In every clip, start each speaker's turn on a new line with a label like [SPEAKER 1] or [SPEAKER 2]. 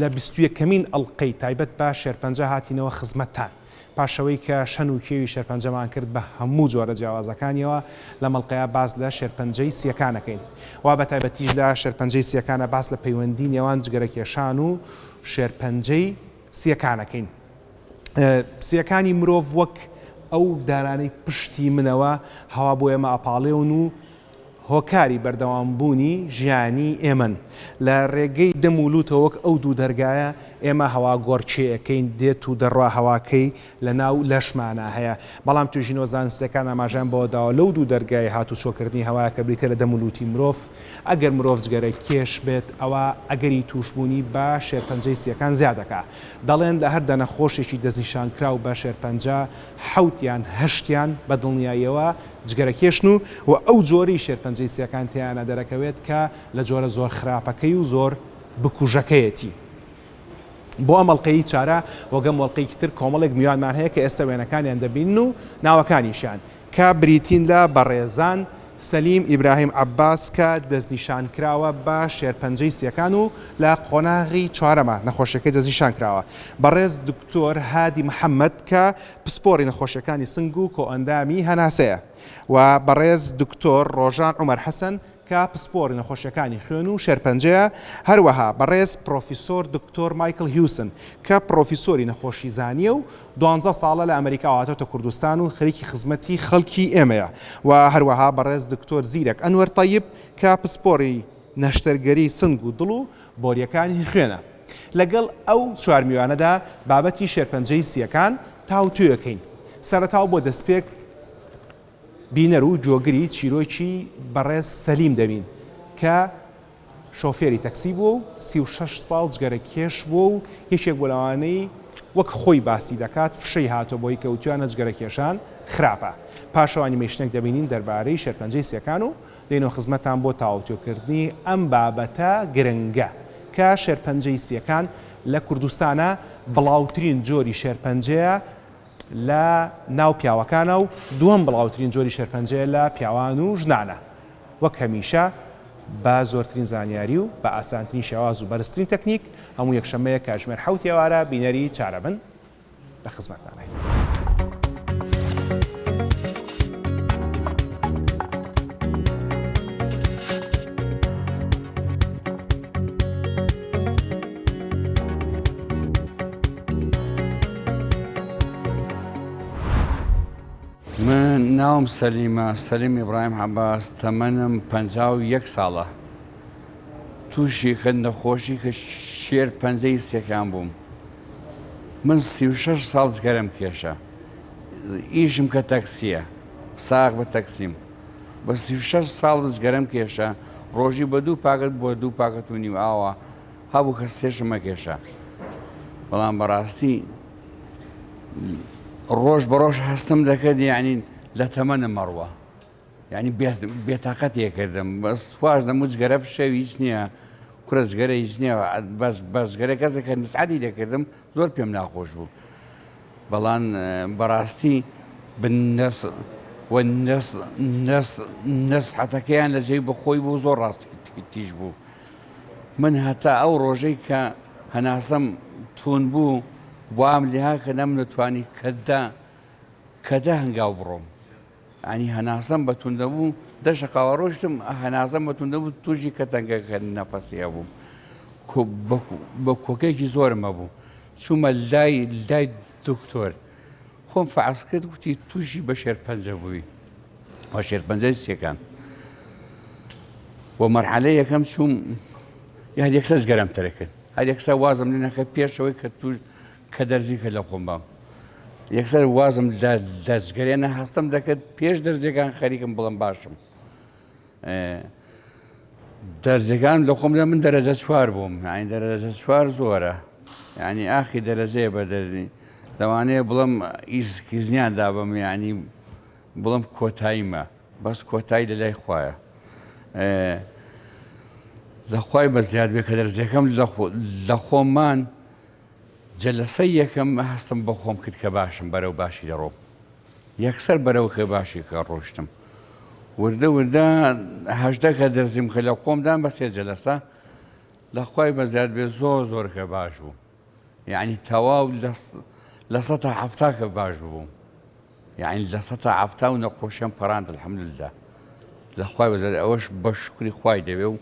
[SPEAKER 1] لە بیست و یەکەمین ئەڵقەی تایبەت بە شێرپەنجە هاتینەوە خزمەتتان، پاش ئەوەی کە شەن و کێوی شێرپەنجەمان کرد بە هەموو جۆرە جیاوازەکانیەوە، لەم ئەڵقەیە باس لە شێرپەنجەی سییەکان ئەکەین و بە تایبەتیش لە شێرپەنجەی سییەکانە باس لە پەیوەندی نێوان جگەرەکێشان و شێرپەنجەی سییەکان ئەکەین. سییەکانی مرۆڤ وەک ئەو دارانەی پشتی منەوە هەوا بۆ ئێمە ئەپاڵێون و هۆکاری بەردەوام بوونی ژیانی ئێمەن. لە رێگەی دەم و لووتەوە وەک ئەو دوو دەرگایە ئێمە هەوا گۆڕکێیەکەین دێت و دەڕوا هەواکەی لە ناو لەشمانا هەیە. بەڵام توێژینەوە زانستیەکان ئاماژەیان بەوە داوە لەو دوو دەرگای هات و چۆکردنی هەوایە کە بریتیە لە دەم و لووتی مرۆڤ ئەگەر مرۆڤ جگەرە کێش بێت ئەوا ئەگەری تووش بوونی بە شێرپەنجەی سیەکان زیاد دەکا. دەڵێن لە هەر دە نەخۆشێکی دەستنیشانکراو بە شێرپەنجە حەوت یان هەشتیان بە دڵنیاییەوە جگەرەکێشن و و ئەو جۆرەی شێرپەنجەی سیەکان تێیانا دەرەکەوێت کە لە جۆرە زۆر خراپەکەی و زۆر بکوژەکەیەتی. بۆ ئەم ئەڵقەیەی چارە وەگەم وەڵقەیەکی تر کۆمەڵێک میوانمان هەیە کە ئێستە وێنەکانیان دەبینن و ناوەکانیشیان کە بریتین لە بەڕێزان، سەلیم ئیبراهیم عەباس کە دەستنیشان کراوە بە شێرپەنجەی سیەکان و لە قۆناغی چوارەمە نەخۆشیەکەی دەستنیشان کراوە، بەڕێز دکتۆر هادی محەمەد کە پسپۆڕی نەخۆشیەکانی سنگ و کۆئەندامی هەناسەیە و بەڕێز دکتۆر ڕۆژان عومەر حەسەن کە پسپۆڕی نەخۆشیەکانی خوێن و شێرپەنجەیە، هەروەها بەڕێز پرۆفیسۆر دکتۆر مایکڵ هیوسن کە پرۆفیسۆری نەخۆشیزانیە و دوانزە ساڵە لە ئەمەریکاوە هاتۆتە کوردستان و خەریکی خزمەتی خەڵکی ئێمەیە و هەروەها بەڕێز دکتۆر زیرەک ئەنوەر تەیب کە پسپۆڕی نەشتەرگەری سنگ و دڵ و بۆریەکان هی خوێنە. لەگەڵ ئەو چوار میوانەدا بابەتی شێرپەنجەی سییەکان تاوتوێکەین. سەرەتا و بۆ دەستپێک بینەر و گۆگری چیرۆکی بەڕێز سەلیم دەبین کە شۆفێری تەکسی بووە و سی و شەش ساڵ جگەرەکێش بووە و یەکێک بۆ لەوانەی وەک خۆی باسی دەکات فشەی هاتۆ بۆی کەوتویانە جگەرەکێشان خراپە. پاشەوانی مەیشنەک دەبینین دەربارەی شێرپەنجەی سییەکان و دێنەوە خزمەتتان بۆ تاوتوێکردنی ئەم بابەتە گرنگە کە شێرپەنجەی سییەکان لە کوردستانە بڵاوترین جۆری شێرپەنجەیە لە ناو پیاوەکانە و دووەم بڵاوترین جۆری شێرپەنجەیە لە پیاوان و ژنانە وەک هەمیشە بە زۆرترین زانیاری و بە ئاسانترین شێواز و بەرزترین تەکنیک هەموو یەکشەممەیە کاتژمێر حەوت ئێوارە بینەری چارەبن. لە خزمەتدانین.
[SPEAKER 2] ناوم سەلیمە سەلیم ئیبراهیم عەباس تەمەنم پ یەک ساڵە تووشی کە نەخۆشی کە شێر پەنجەی سێکان بووم من سی و شەش ساڵ جگەرەم کێشا ئیشم کە تەکسیە ساغ بە تەکسیم بە سی و شەش ساڵ جگەرەم کێشا ڕۆژی بە دوو پاکت بۆ دوو پاکت و نیو ئاوا هەبوو کە سێشمە کێشا بەڵام بەڕاستی ڕۆژ بە ڕۆژ هەستم دەکرد یعنی لە تەمەنە مەڕوە یانی بێتاقەتیە کردم بەس خواش دەم و جگەرە فشەوی هیچ نییە کورە جگەرە هیچ نییە بەس بەسگەرە کەسێک کە نسعادی دەکردم زۆر پێم ناخۆش بوو بەڵام بەڕاستی بندەس نەسحەتەکەیان لە جێی بەخۆی بوو زۆر ڕاست تیژ بوو من هەتا ئەو ڕۆژەی کە هەناسەم تون بوو وام لێها کە نەم نەتوانی کەدا کەدا هەنگاو بڕۆم یانی هەناسەم بە توندە بوو دە شقاوە ڕۆشتم هەناسەم بە توندە بوو توژی کە تەنگەکە نەفەسی هەبووم بە کۆکێکی زۆرم هەبوو چوومە لای لای دکتۆر خۆم فعس کرد گوتی توژی بە شێر پەنجە بووی وە شێر پەنجەی سێکان بۆ مەرحەلە یەکەم چووم یان یەکسەس گەرم تەرەکرد هەر یەکسا وازم لێ نەکە پێشەوەی کە توش کە دەرزی کرد لە خۆم بام یەکسەر وازم لە دەستگەرێنە هەستم دەکرد پێش دەرزیەکان خەریکم بڵم باشم دەرزەکان لە خۆمدا من دەرەجە چوار بووم ئاین دەرەجە چوار زۆرە ینی ئاخی دەرەجەیە بە دەرزی لەوانەیە بڵم ئیسکیزنیان دابم ینی بڵم کۆتاییمە بەس کۆتایی لە لای خویە لەخوای بە زیاد بێ کە دەرزەکەم لە خۆمان جەلەسەی یەکەم هەستم بۆ خۆم کرد کە باشم، بەرەو باشی دەڕۆم. یەکسەر بەرەو کە باشی کە ڕۆشتم. وردە وردە هەژدە کە دەرزیم کە لە خۆم دام بە سێ جەلەسە لە خوای بەزیاد بێ زۆر زۆر کە باش بووم. یەعنی تەواو لە سەتا حەفتا کە باش بووم. یەعنی لە سەتا حەفتاو نەقۆشیان پەراند الحمدللە لە خوای بەزەر ئەوەش بە شکری خوای دەوێ و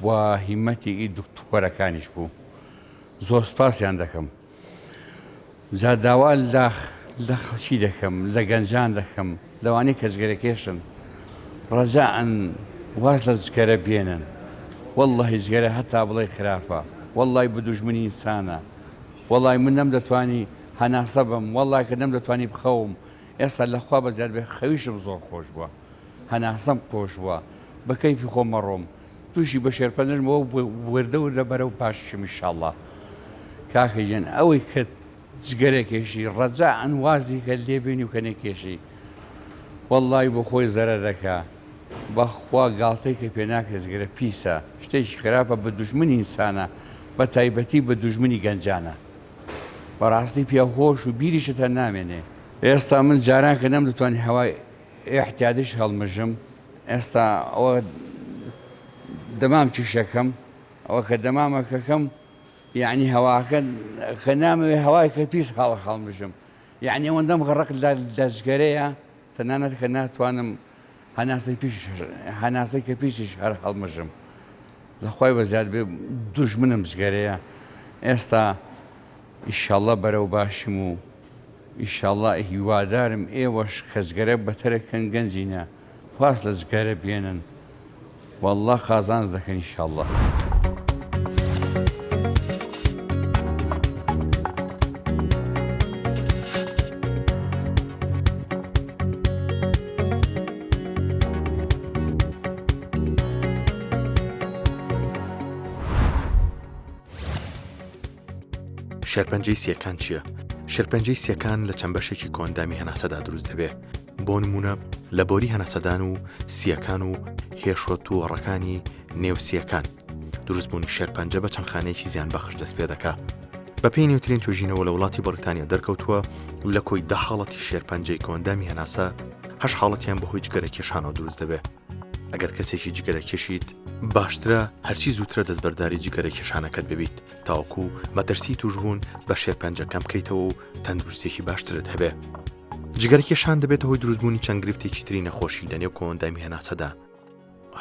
[SPEAKER 2] و هیمەتی ئی دکتۆرەکانیش بوو زۆر سپاسیان دەکەم جا داوا لاخ لە خەڵکی دەکەم لە گەنجان دەکەم لەوانی کە جگەرەکێشن ڕەجان واز لە جگەرە بێنن واللهی جگەرە هەتا بڵێ خراپە واللهی بدوژمنی ئینسانە وەڵی من نەم دەتوانی هەناسە بەم وەڵڵا کە نەمدەتوانی بخەوم ئێستا لە خوا بەزیاد بێ خەویشم زۆر خۆش بوە هەناسەم قۆش بوە بە کەیفی خۆم ئەڕۆم توشی بە شێرپەنجەش بۆ وردە وردە بەرەو پاششم ان شاء اللە کاکە گیان ئەوەی کە جگەرە کێشی ڕەجا ئەن وازی کە لێ بێنی و کە نەکێشی وەڵڵای بۆ خۆی زەرە دەکە بەخوا گاڵتەی کە پێ ناکرێت جگەرە پیسە شتێکی خراپە بە دوژمنی ئینسانە بە تایبەتی بە دوژمنی گەنجانە بەڕاستی پیا خۆش و بیریشت هەر نامێنێ. ئێستا من جاران کە نەمدەتوانی هەوای ئیحتیادیش هەڵمژم ئێستا ئەوە دەمام چیشەکەم ئەوە کە دەمامەکەکەم یەعنی هەواکە کە نامەوێ هەوای کە پیس هەڵ هەڵمژم یەعنی ئەوەندەم غەڕق لە لەجگەرەیە تەنانەت کە ناتوانم هەناسەی کە پیشیش هەر هەڵمژم لە خۆی بەزیاد بێ دوژمنم جگەرەیە ئێستا ئیشەڵە بەرەو باشم و ئیشەڵە هیوادارم ئێوەش کەچگەرە بەتەرەکەن گەنجینە خواست لە جگەرە بێنن. واللە قازانج دەکەن ان شاء اللە.
[SPEAKER 3] شێرپەنجەی سیەکان چییە؟ شێرپەنجەی سیەکان لە چەند بەشێکی کۆندامی هەناسەدا دروست دەبێت بۆ نموونە لە بۆری هەناسەدان و سییەکان و هێشوە تووەڕەکانی نێو سییەکان دروستبوونی شێرپەنجە بە چەند خانەیەکی زیان بەخش دەست پێ دەکا بەپی نووترین توژینەوە لە وڵاتی بەریتانیا دەرکەوتووە لە کۆی دە حاڵەتی شێرپەنجەی کۆندامی هەناسە هەش حاڵەتیان بەهۆی جگەرە کێشانەوە دروست دەبێت ئەگەر کەسێکی جگەرە کێشیت باشترە هەرچی زووترە دەستبەرداری جگەرە کێشانەکەت ببیت تاوەکو مەترسی توشبوون بە شێرپەنجەکەم بکەیتەوە و تەندروستێکی باشترت هەبێ جگەرکێشان دەبێتە هۆی دروستبوونی چەند گرفتێکی تری نەخۆشی لە نێو کۆندامی هەناسەدا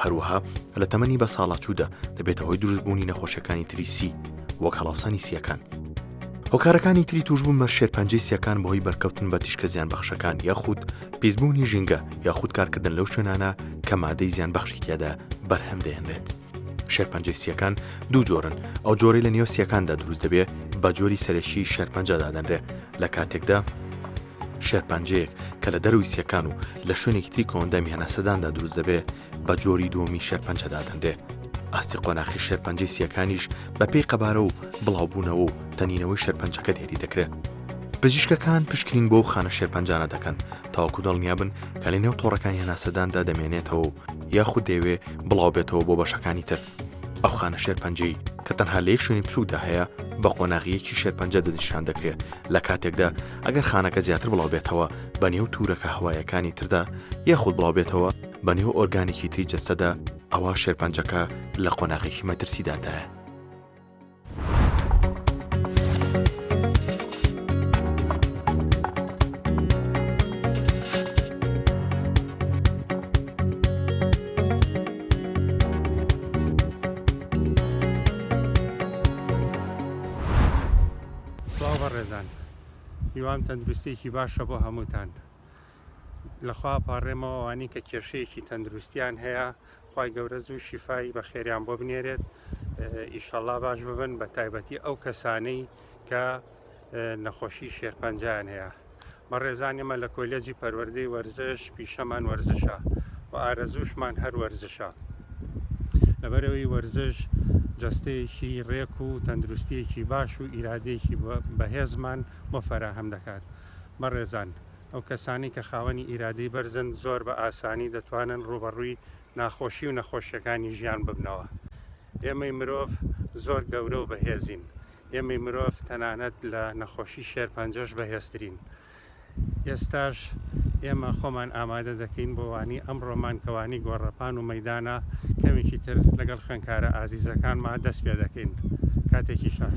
[SPEAKER 3] هەروەها لە تەمەنی بە ساڵاچوودا دەبێتە هۆی دروستبوونی نەخۆشیەکانی تریسی وەک هەڵاوسانی سیەکان هۆکارەکانی تری توشبوو مە شێرپەنجەی سیەکان بەهۆی بەرکەوتن بە تیشکە زیان بەخشەکان یاخود پیسبوونی ژینگە یاخود کارکردن لەو شوێنانە کە مادەی زیان بەخشی تیادا بەرهەم دەێنرێت شێرپەنجەی سییەکان دوو جۆرن ئەو جۆری لە نێو سیەکاندا دروست دەبێ بە جۆری سەرەکی شێرپەنجە دادەنرێ لە کاتێکدا شێرپەنجەیەک کە لە دەروی سیەکان و لە شوێنێکی تری کۆندەمی هەناسەداندا دروست دەبێ بە جۆری دووەمی شێرپەنجە دادەنرێ ئاستی قۆناخی شێرپەنجەی سیەکانیش بە پێی قەبارە و بڵاوبوونەوە و تەنینەوەی شێرپەنجەکە دێری دەکرێت پزیشکەکان پشکنین بۆ و خانە شێرپەنجانە دەکەن تاوەکو دڵنیا بن کە لە نێو تۆڕەکانی هەناسەداندا دەمێنێتەوە و یاخود دەیەوێ بڵاوبێتەوە بۆ بەشەکانی تر ئەو خانە شێرپەنجەی کە تەنها لە یەک شوێنی بچووکدا هەیە بە قۆناغیەکی شێرپەنجە دەنیشان دەکرێت لە کاتێکدا ئەگەر خانەکە زیاتر بڵاو بێتەوە بە نێو تورەکە هەوایەکانی تردا یاخود بڵاو بێتەوە بە نێو ئۆرگانێکی تری جەستەدا ئەوە شێرپەنجەکە لە قۆناغێکی مەترسیدادایە
[SPEAKER 4] هیوام تەندروستێکی باشە بۆ هەمووتان لەخوا پاڕێمەوە ئەوانی کە کێشەیەکی تەندروستیان هەیە خوای گەورە زوو شیفای بە خێریان بۆ بنێرێت ئیشەڵا باش ببن بە تایبەتی ئەو کەسانەی کە نەخۆشی شێرپەنجیان هەیە بە ڕێزان ئێمە لە کۆلێجی پەروەردەی وەرزش پیشەمان وەرزشە و ئارەزوشمان هەر وەرزشە لەبەرەوەی وەرزش جستەیەکی ڕێک و تەندروستیەکی باش و ئیرادەیەکی بەهێزمان بۆ فەراهەم دەکات بەڕێزان ئەو کەسانەی کە خاوەنی ئیرادەی بەرزن زۆر بە ئاسانی دەتوانن ڕووبەڕووی ناخۆشی و نەخۆشیەکانی ژیان ببنەوە. ئێمەی مرۆڤ زۆر گەورە و بەهێزین. ئێمەی مرۆڤ تەنانەت لە نەخۆشی شێرپەنجەش بەهێزترین. ئێستاش ئێمە خۆمان ئامادە دەکەین بۆ وانی ئەمڕۆمان کە وانی گۆڕەپان و مەیدانە، کەمێکی تر لەگەڵ خوێنکارە ئازیزەکانما دەست پێ دەکەین. کاتێکی شاخ.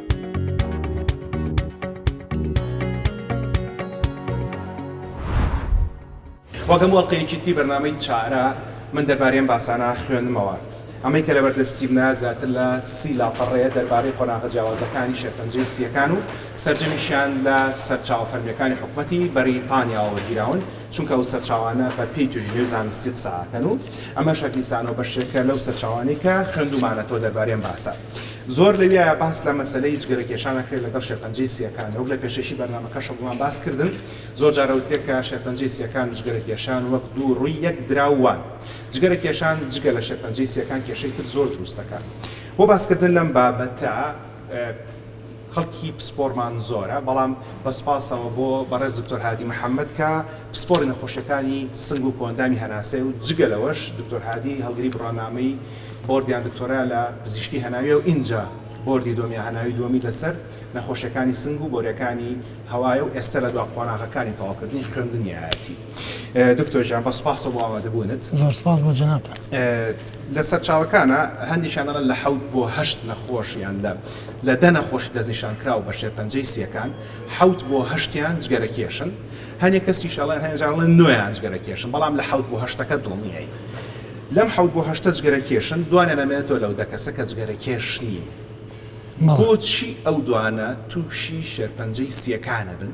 [SPEAKER 1] وەک هەموو ئەڵقەیەکی تری بەرنامەی چارە من دەربارەی ئەم باسانە خوێندمەوە. ئەمەی کە لەبەردە ستیڤنە زیاتر لە سی لاپەڕەیە دەربارەی قۆناغە جیاوازەکانی شێرپەنجەی سییەکان و سەرجەمیشیان لە سەرچاوە فەرمییەکانی حکومەتی بەریتانیاوە وەرگیراون، چونکە ئەو سەرچاوانە بە پێی توێژینەوەی زانستی قسە ئەکەن و ئەمەش هەر دیسانەوە بەشێکە لەو سەرچاوانەی کە خوێندوومانەتەوە دەربارەی ئەم باسە. زۆر لەویایە باس لە مەسەلەی جگەرەکێشان ئەکرێت لەگەڵ شێرپەنجەی سییەکان، وەک لە پێشەکی بەرنامەکەشە بۆمان باس کردن زۆر جار ئەوترێت کە شێرپەنجەی سییەکان و جگەرەکێشان وەک دوو ڕووی یەک دراو وان. جگەرەکێشان جگە لە شێرپەنجەی سییەکان کێشەی تر زۆر دروست دەکات. بۆ باس کردن لەم بابەتە، خەڵکی پسپۆڕمان زۆرە بەڵام بە سوپاسەوە بۆ بەڕێز دکتۆر هادی محەمەد کە پسپۆڕی نەخۆشیەکانی سنگ و کۆئەندامی هەناسەیە و جگە لەوەش دکتۆر هادی هەڵگری بڕوانامەی بۆردیان دکتۆرا لە پزیشکی هەناویە و ئینجا بۆردی دوەمیان هەناوی دوەمی لەسەر نەخۆشیەکانی سنگ و بۆریەکانی هەوایە و ئێستا لە دوا قۆناغەکانی تەواوکردنی خوێندنیایەتی دکتۆر گیان بە سوپاسەوە بۆ ئامادەبوونت. زۆر سوپاس بۆ جەنابتان.
[SPEAKER 5] لە
[SPEAKER 1] سەرچاوەکانا هەندێکیان دەڵێن لە حەوت بۆ هەشت نەخۆش یان لە. لە دە نەخۆشی دەستنیشانکراو بە شێرپەنجەی سییەکان، حەوت بۆ هەشتیان جگەرەکێشن، هەنێک کەسیش ئەڵێن، هەنێک جار ئەڵێن نۆیان جگەرەکێشن، بەڵام لە حەوت بۆ هەشتەکە دڵنیاین. لەم حەوت بۆ هەشتە جگەرەکێشن، دوانیان ئەمێنێتەوە لەو دە کەسە کە جگەرەکێش نین. بۆچی ئەو دوانە تووشی شێرپەنجەی سییەکان ئەبن؟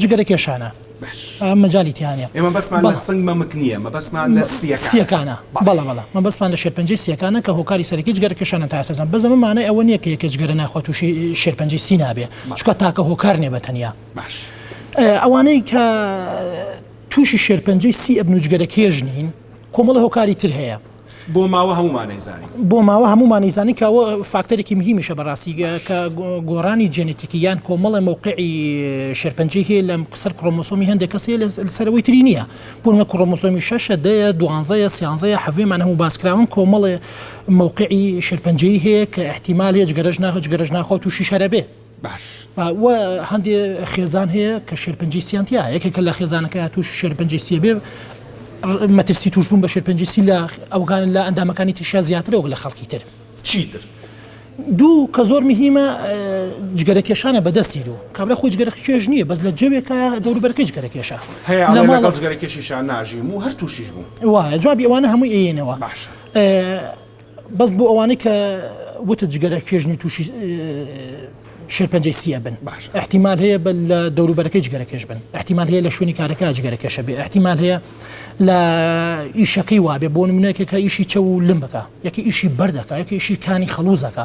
[SPEAKER 5] جگەرە کێشانە باش ئەم مەجالی تیا نیە ئێمە بەسمان لە بەڵێ. سنگ
[SPEAKER 1] مەمک نییە مەبەستمان لە سییەکانە سییەکانە
[SPEAKER 5] بەڵێ بەڵێ مەبەستمان لە شێرپەنجەی سییەکانە کە هۆکاری سەرەکی جگەرە کێشانە تا ئێستا زان بەس ئەمە مانای ئەوە نییە کە یەکێ جگەرە ناخوا تووشی شێرپەنجەی سی نابێ بەڵێ. چونکە تاکە هۆکار نیە بە تەنیا باش ئێ ئەوانەی کە تووشی شێرپەنجەی سی ئەبن و جگەرەکێش نین کۆمەڵە هۆکاری تر هەیە. بۆ ماوە
[SPEAKER 1] هەموومانەی زانی. بۆ ماوە هەموومانەی
[SPEAKER 5] زانی کە ئەوە فاکتەرێکی مهیمیشە بەڕاستی کە گۆڕانی جێنێتیکی یان کۆمەڵە مەوقعی شێرپەنجەی هەیە لە سەر کڕۆمۆسۆمی هەندێک کەس هەیە لە سەر ئەوەی تری نییە بۆ نمونە کڕۆمۆسۆمی شەشە دەیە دوانزەیە سیانزەیە حەڤێمان هەموو باس کراون کۆمەڵێ مەوقعی شێرپەنجەی هەیە کە ئیحتیمال هەیە جگەرەش ناخۆ جگەرەش ناخۆ تووشیش هەرە بێ باش
[SPEAKER 1] و هەندێ
[SPEAKER 5] خێزان هەیە کە شێرپەنجەی سیان تیا یەکێکە لە خێزانەکە توش شێرپەنجەی سیە بێ مەترسی توشبوون بە شێرپەنجی سی لە ئەوگان لە ئەندامەکانی تیشا زیاترە وەک لە خەڵکی تر چیتر
[SPEAKER 1] دوو
[SPEAKER 5] کە زۆر مهمە جگەرە کێشانە بەدەستی دوو کابرا خۆی جگەرە کێش نییە بەس لە جەوێکە دەوروبەرکە جگەرە کێشە هەیە لە ماڵ
[SPEAKER 1] جگەرە کێشیشان ناژیم و هەر تووشیش بوو وایە جوابی ئەوانە هەموو
[SPEAKER 5] ئێنەوە باشە بەس بۆ ئەوانەی کە وتت جگەرە کێژنی تووشی شێرپەنجەی سی ئەبن باش احتیمال هەیە بە لە دەوروبەرەکەی جگەرە کێش بن احتیمال هەیە لە شوێنی کارەکە جگەرە کێشە بێ احتیمال هەیە لە ئیشەکەی وابێ بۆ منێکێکە ئیشی چە و لم بکە یەکە ئیشی بەردەکە یەکە ئیشی کانی خەڵوزەکە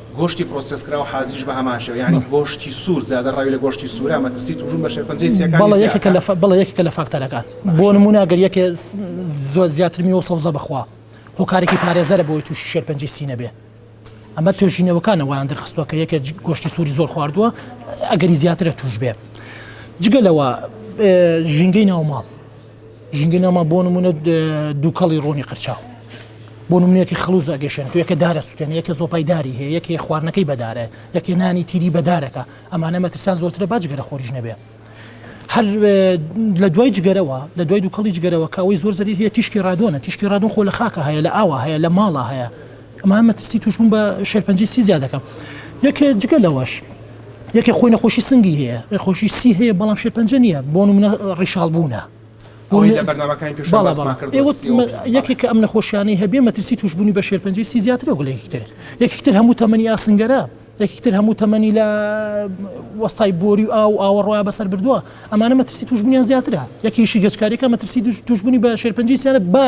[SPEAKER 1] گۆشتی
[SPEAKER 5] پرۆسێسکراو
[SPEAKER 1] حازریش بە هەمان شێوە یانی گۆشتی سوور زیادە ڕەوی لە گۆشتی سوورە مەترسی تووشبوون بە شێرپەنجەی سییەکانی زیاترە. بەڵێ یەکێکە
[SPEAKER 5] لە فاکتەرەکان بۆ نموونە گەر یەکێ زۆر زیاتر میوە سەوزە بخوا هۆکارێکی پارێزەرە بۆی تووشی شێرپەنجەی سی نەبێ ئەمە توێژینەوەکانە وایان دەرخستووە کە یەکێ گۆشتی سووری زۆر خواردووە ئەگەری زیاترە تووش بێ جگە لەوە ژینگەی ناوماڵ ژینگەی ناومان بۆ نمونە دووکەڵی ڕۆنی قرچاو بۆ نمونەتی خلوز ئەگەشێن تو یەکە دارە سووتێن یەکە زۆپای داری هەیە یەکێ خواردنەکەی بەدارە یەکێ نانی تیری بەدارەکە ئەمانە مەترسان زۆرترە باجگەرە خۆریش نەبێ هەر لە دوای جگەرەوە لە دوای دووکەڵی جگەرەوە کە ئەوەی زۆر زەری هەیە تیشکی ڕادۆنە تیشکی ڕادۆن خۆ لە خاکە هەیە لە ئاوا هەیە لە ماڵە هەیە ئەمە مەترسی تووشبوون بە شێرپەنجەی سی زیاد دەکات یەک جگە لەوەش یەکێ خۆی نەخۆشی سنگی هەیە نەخۆشی سی هەیە بەڵام شێرپەنجە نییە بۆ منە ڕیشاڵ بوونە یەکێک ئەم نەخۆشیانی هەبێ مەترسی توشببوونی بە شێرپەنجی سی زیاتر و گلێکتر یەکتر هەموو تەمەنی ئاسنگەرە یەکتر هەموو تەمەنی لە وەستای بۆری و ئاو ئاوەڕۆە بەسەر بردووە ئەمانە مەترسی توشببوونیان زیاترە یەکیشی گەچکارێکە مەترسی توشببوونی بە شێرپەنجی سیانە بە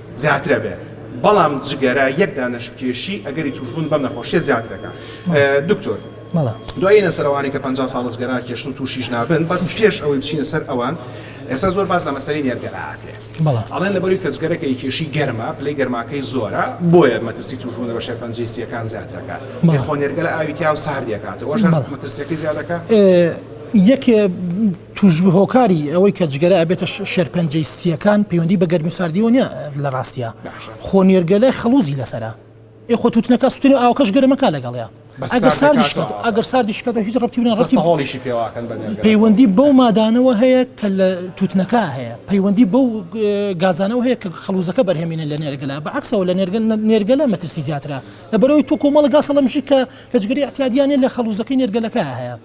[SPEAKER 1] زیاترە بێت بەڵام جگەرە یەک دانەش بکێشی ئەگەری توشبوون بەم نەخۆشیە زیاتر ئەکا دکتۆر دوای ئینە سەر ئەوانەی کە پەنجا ساڵە جگەرا کێشتن توشیش نابن بەس پێش ئەوەی بچینە سەر ئەوان ئێستا زۆر باس لە مەسەلەی نێرگەلە ئاکرێ ئەڵێن لەبەروی کە جگەرە کە کێشی گەرمە پلەی گەرماکەی زۆرە بۆیە مەترسی توشبوون لە بەشێ پەنجەی سیەکان زیاترەکە خۆ نێرگەلە ئاوی تیا و ساردی ئەکاتەوە ئەوەش مەترسیەکەی زیادەکا
[SPEAKER 5] یەکێ توشبوو هۆکاری ئەوەی کە جگەرە ئەبێتە شێرپەنجەی سییەکان پەیوەندی بە گەرمی و ساردیەوە نیە لە ڕاستیا خۆ نێرگەلە خەڵوزی لەسەرە ئێ خۆ توتنەکە سوتێنێ ئاوکەش گەرمەکە لەگەڵێ ئەگەر ساردیش ئەگەر ساردیش کە هیچ ڕەتی بنە ڕەتی هۆڵیشی پێواکەن
[SPEAKER 1] پەیوەندی بەو
[SPEAKER 5] مادانەوە هەیە کە لە توتنەکە هەیە پەیوەندی بەو گازانەوە هەیە کە خەڵوزەکە بەرهێمینە لە نێرگەلا بە عکسەوە لە نێرگەل نێرگەلە مەترسی زیاترە لە بەرەوەی تو کۆمەڵە گاسە لەمژی کە هەجگەری احتیادیانە لە خەڵوزەکەی نێرگەلەکە هەیە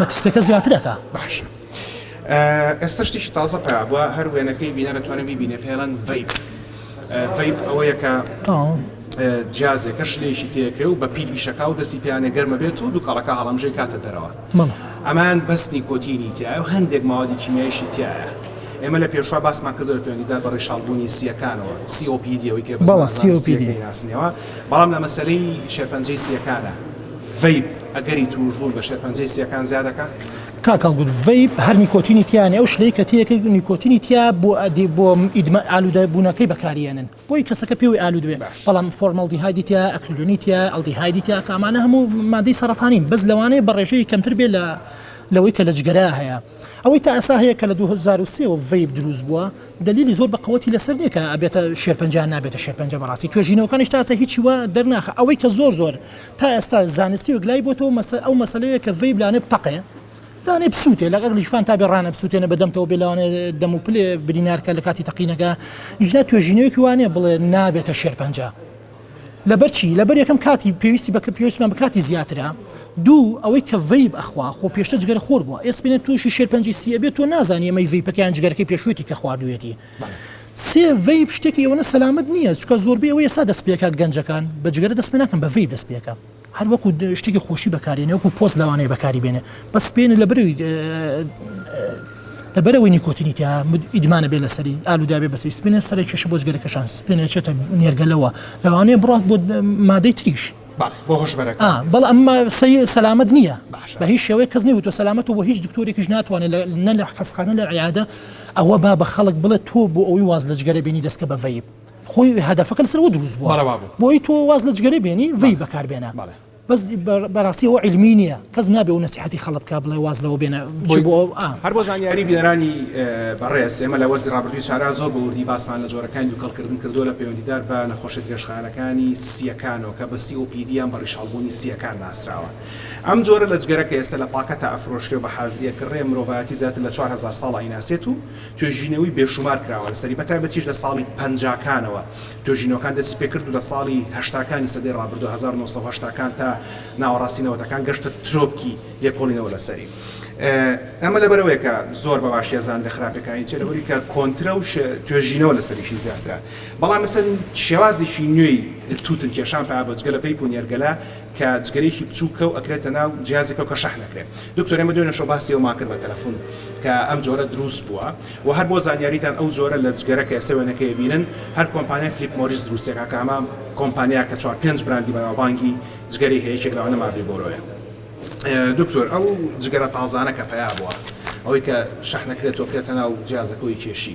[SPEAKER 5] مەترسیەکە زیاتر ئەکا.
[SPEAKER 1] باشە ئێستا شتێکی تازە پەیا بوە هەر وێنەکەی بینەر ئەتوانێ بیبینێ پێی ئەڵێن ڤەیپ ڤەیپ ئەوەیە کە جیازێکە شلەیەکی تێکرێ و بە پیل ئیشەکە و دەستی پێیانە گەرمە بێت و دووکەڵەکە هەڵمژەی کاتە دەرەوە ئەمان بەست نیکۆتینی تایە و هەندێک ماوەی کیمیایشی تایە ئێمە لە پێشوا باسمان کردو لە پێوەندیدا بە ڕیشاڵبوونی سیەکانەوە سیۆپیدیەوەی کە بەڵام لە مەسەلەی شێرپەنجەی سیەکانە ڤەیپ ئەگەری تووشبوون بە شێرپەنجەی سییەکان زیا دەکات؟ کاک هەڵگوت
[SPEAKER 5] ڤەیپ هەر نیکۆتینی تیا نیە ئەو شلەی کە تیەکە نیکۆتینی تیا بۆ ئەدی بۆ ئیدمە ئالوودە بوونەکەی بەکاریەنن بۆی کەسەکە پێوەی ئالوود بێ بەڵام فۆرمەڵدیهایدی تیا ئەکریلۆنی تیا ئەڵدیهایدی تیا کە ئەمانە هەموو مادەی سەڕەتانین بەس لەوانەیە بە ڕێژەیەک کەمتر بێ لە لەوەی کە لە جگەرە هەیە ئەوەی تا ئێستا هەیە کە لە دوو هەزار و سێ وە ڤەیپ دروست بووە دەلیلی زۆر بە قەوەتی لەسەر نیە کە ئەبێتە شێرپەنجە یان نابێتە شێرپەنجە بەڕاستی توێژینەوەکانیش تا ئێستا هیچی وا دەرناخە ئەوەی کە زۆر زۆر تا ئێستا زانستی وەک لای بۆتەوە مەسە ئەو مەسەلەیە کە ڤەیب لانێ بتەقێ لانێ بسووتێ لەگەڵ لیشفان تا بێ ڕانە بسووتێنە بە دەمتەوە بێ لەوانێ دەم و پلێ برینارکە لە کاتی تەقینەکە ئیشنا توێژینەوەیەکی وانێ بڵێ نابێتە شێرپەنجە لەبەر چی لەبەر یەکەم کاتی پێویستی بە کە پێویستمان بە کاتی زیاترە دوو ئەوەی کە ڤیب ئەخوا خۆ پێشتە جگەرە خۆر بووە ئێسپێنە تووشی شێرپەنجی سیە بێت تۆ نازانانی ئەمەی ڤیپەکەیان جگەرەکەی پێشوێتی کە خواردوێتی سێ، ڤەیپ شتێکی ئەوەنە سەلامەت نییە، چونکە زۆربەی ئەوەی ئێستا دەست پێکات گەنجەکان بە جگەرە دەست پێناکەن بە ڤەیپ دەست پێکەن هەر وەکو شتێکی خۆشی بەکارێنێ وەکو پۆز لەوانەیە بەکاری بێنێ بەس پێێنە لە بەرەوی لە بەرەوەی نیکۆتینی تیا ئیدمانە بێ لەسەری ئالووداێ بەسەری سپێنە سەرێکیش بۆ جگەرەکەشان سپێنێکێتە نێرگەلەوە لەوانەیە بڕات بۆ مادەی تریش ئا بەڵ ئەم ما سەی سەلامەت نیە بە هیچ شێوەیە کەس نەی وتوە سەلامەت و بۆ هیچ دکتۆرێکیش ناتوانێ لە نە لە حەسخانە لە عیادە ئەوە با بە خەڵک بڵێ تۆ بۆ ئەوی واز لە جگەرە بێنی دەستکە بە ڤەیب خۆی هەدەفەکە لەسەر وە دروست بوە بۆی تۆ واز لە جگەرە بێنی ڤەیب بەکار بێنە بەس بە بەراستی ئەوە عیلمی نیە. کەس نابێ و نەسیحەتی خەڵک بکا بڵێ واز لەوە بێنە بچی بۆ ئەو ئا. هەر بۆ زانیاری
[SPEAKER 1] بینەرانی بەڕێز ئێمە لە وەرزی ڕابردووی شارا زۆر بە وردی باسمان لە جۆرەکانی دوکەڵکردن کردووە لە پەیوەندیدار بە نەخۆشیە درێژخایەنەکانی سییەکانەوە کە بە COPD یان بە ڕیشاڵبوونی سییەکان ناسراوە ئەم جۆرە لە جگەرە کە ئێستە لە پاکەتا ئەفرۆشرێ و بە حازری ئەکڕرێ مرۆڤایەتی زیاتر لە چوار هەزار ساڵە ئەیناسێت و توێژینەووی بێشومار کراوە لەسەری بە تایبەتیش لە ساڵی پەنجاکانەوە توێژینەوەکان دەستی پێکرد و لە ساڵی هەشتاکانی سەدەی ڕابردوو هەزار و نۆ سەد و هەشتاکان تا ناوەڕاستی نەوەتەکان گەشتە ترۆپکی لێکۆڵینەوە لەسەری. ئەمە لەبەرئەوەیە کە زۆر بە باشی ئەزانن لە خراپیەکانی چیە لەبەرئەوەی کە کۆنترە و توێژینەوە لەسەریشی زیاترە بەڵام لەسەر شێوازێکی نوێی توتن کێشان پایە بۆ جگەلە ڤەیپ و نێرگەلە کە جگەرەیەکی بچووکە و ئەکرێتە ناو جیازێکەوە کە شەحن ئەکرێت دکتۆر ئێمە دوێنێ شەو باسی ئەومان کرد بە تەلەفون کە ئەم جۆرە دروست بووە و هەر بۆ زانیاریتان ئەو جۆرە لە جگەرە کە ئێستا وێنەکەی ئەبینن هەر کۆمپانیای فلیپ مۆریس دروستیەکا کە ئەمە کۆمپانیا کە چوار پێنج براندی بەناوبانگی جگەرەی هەیە یەکێک لەوانە مارلیبۆرۆیە. دکتۆر ئەو جگەرە تازانە کە پەیا بوە ئەوەی کە شەحنەکرێت و بکرێتە ناو جیازەکە و یکێشی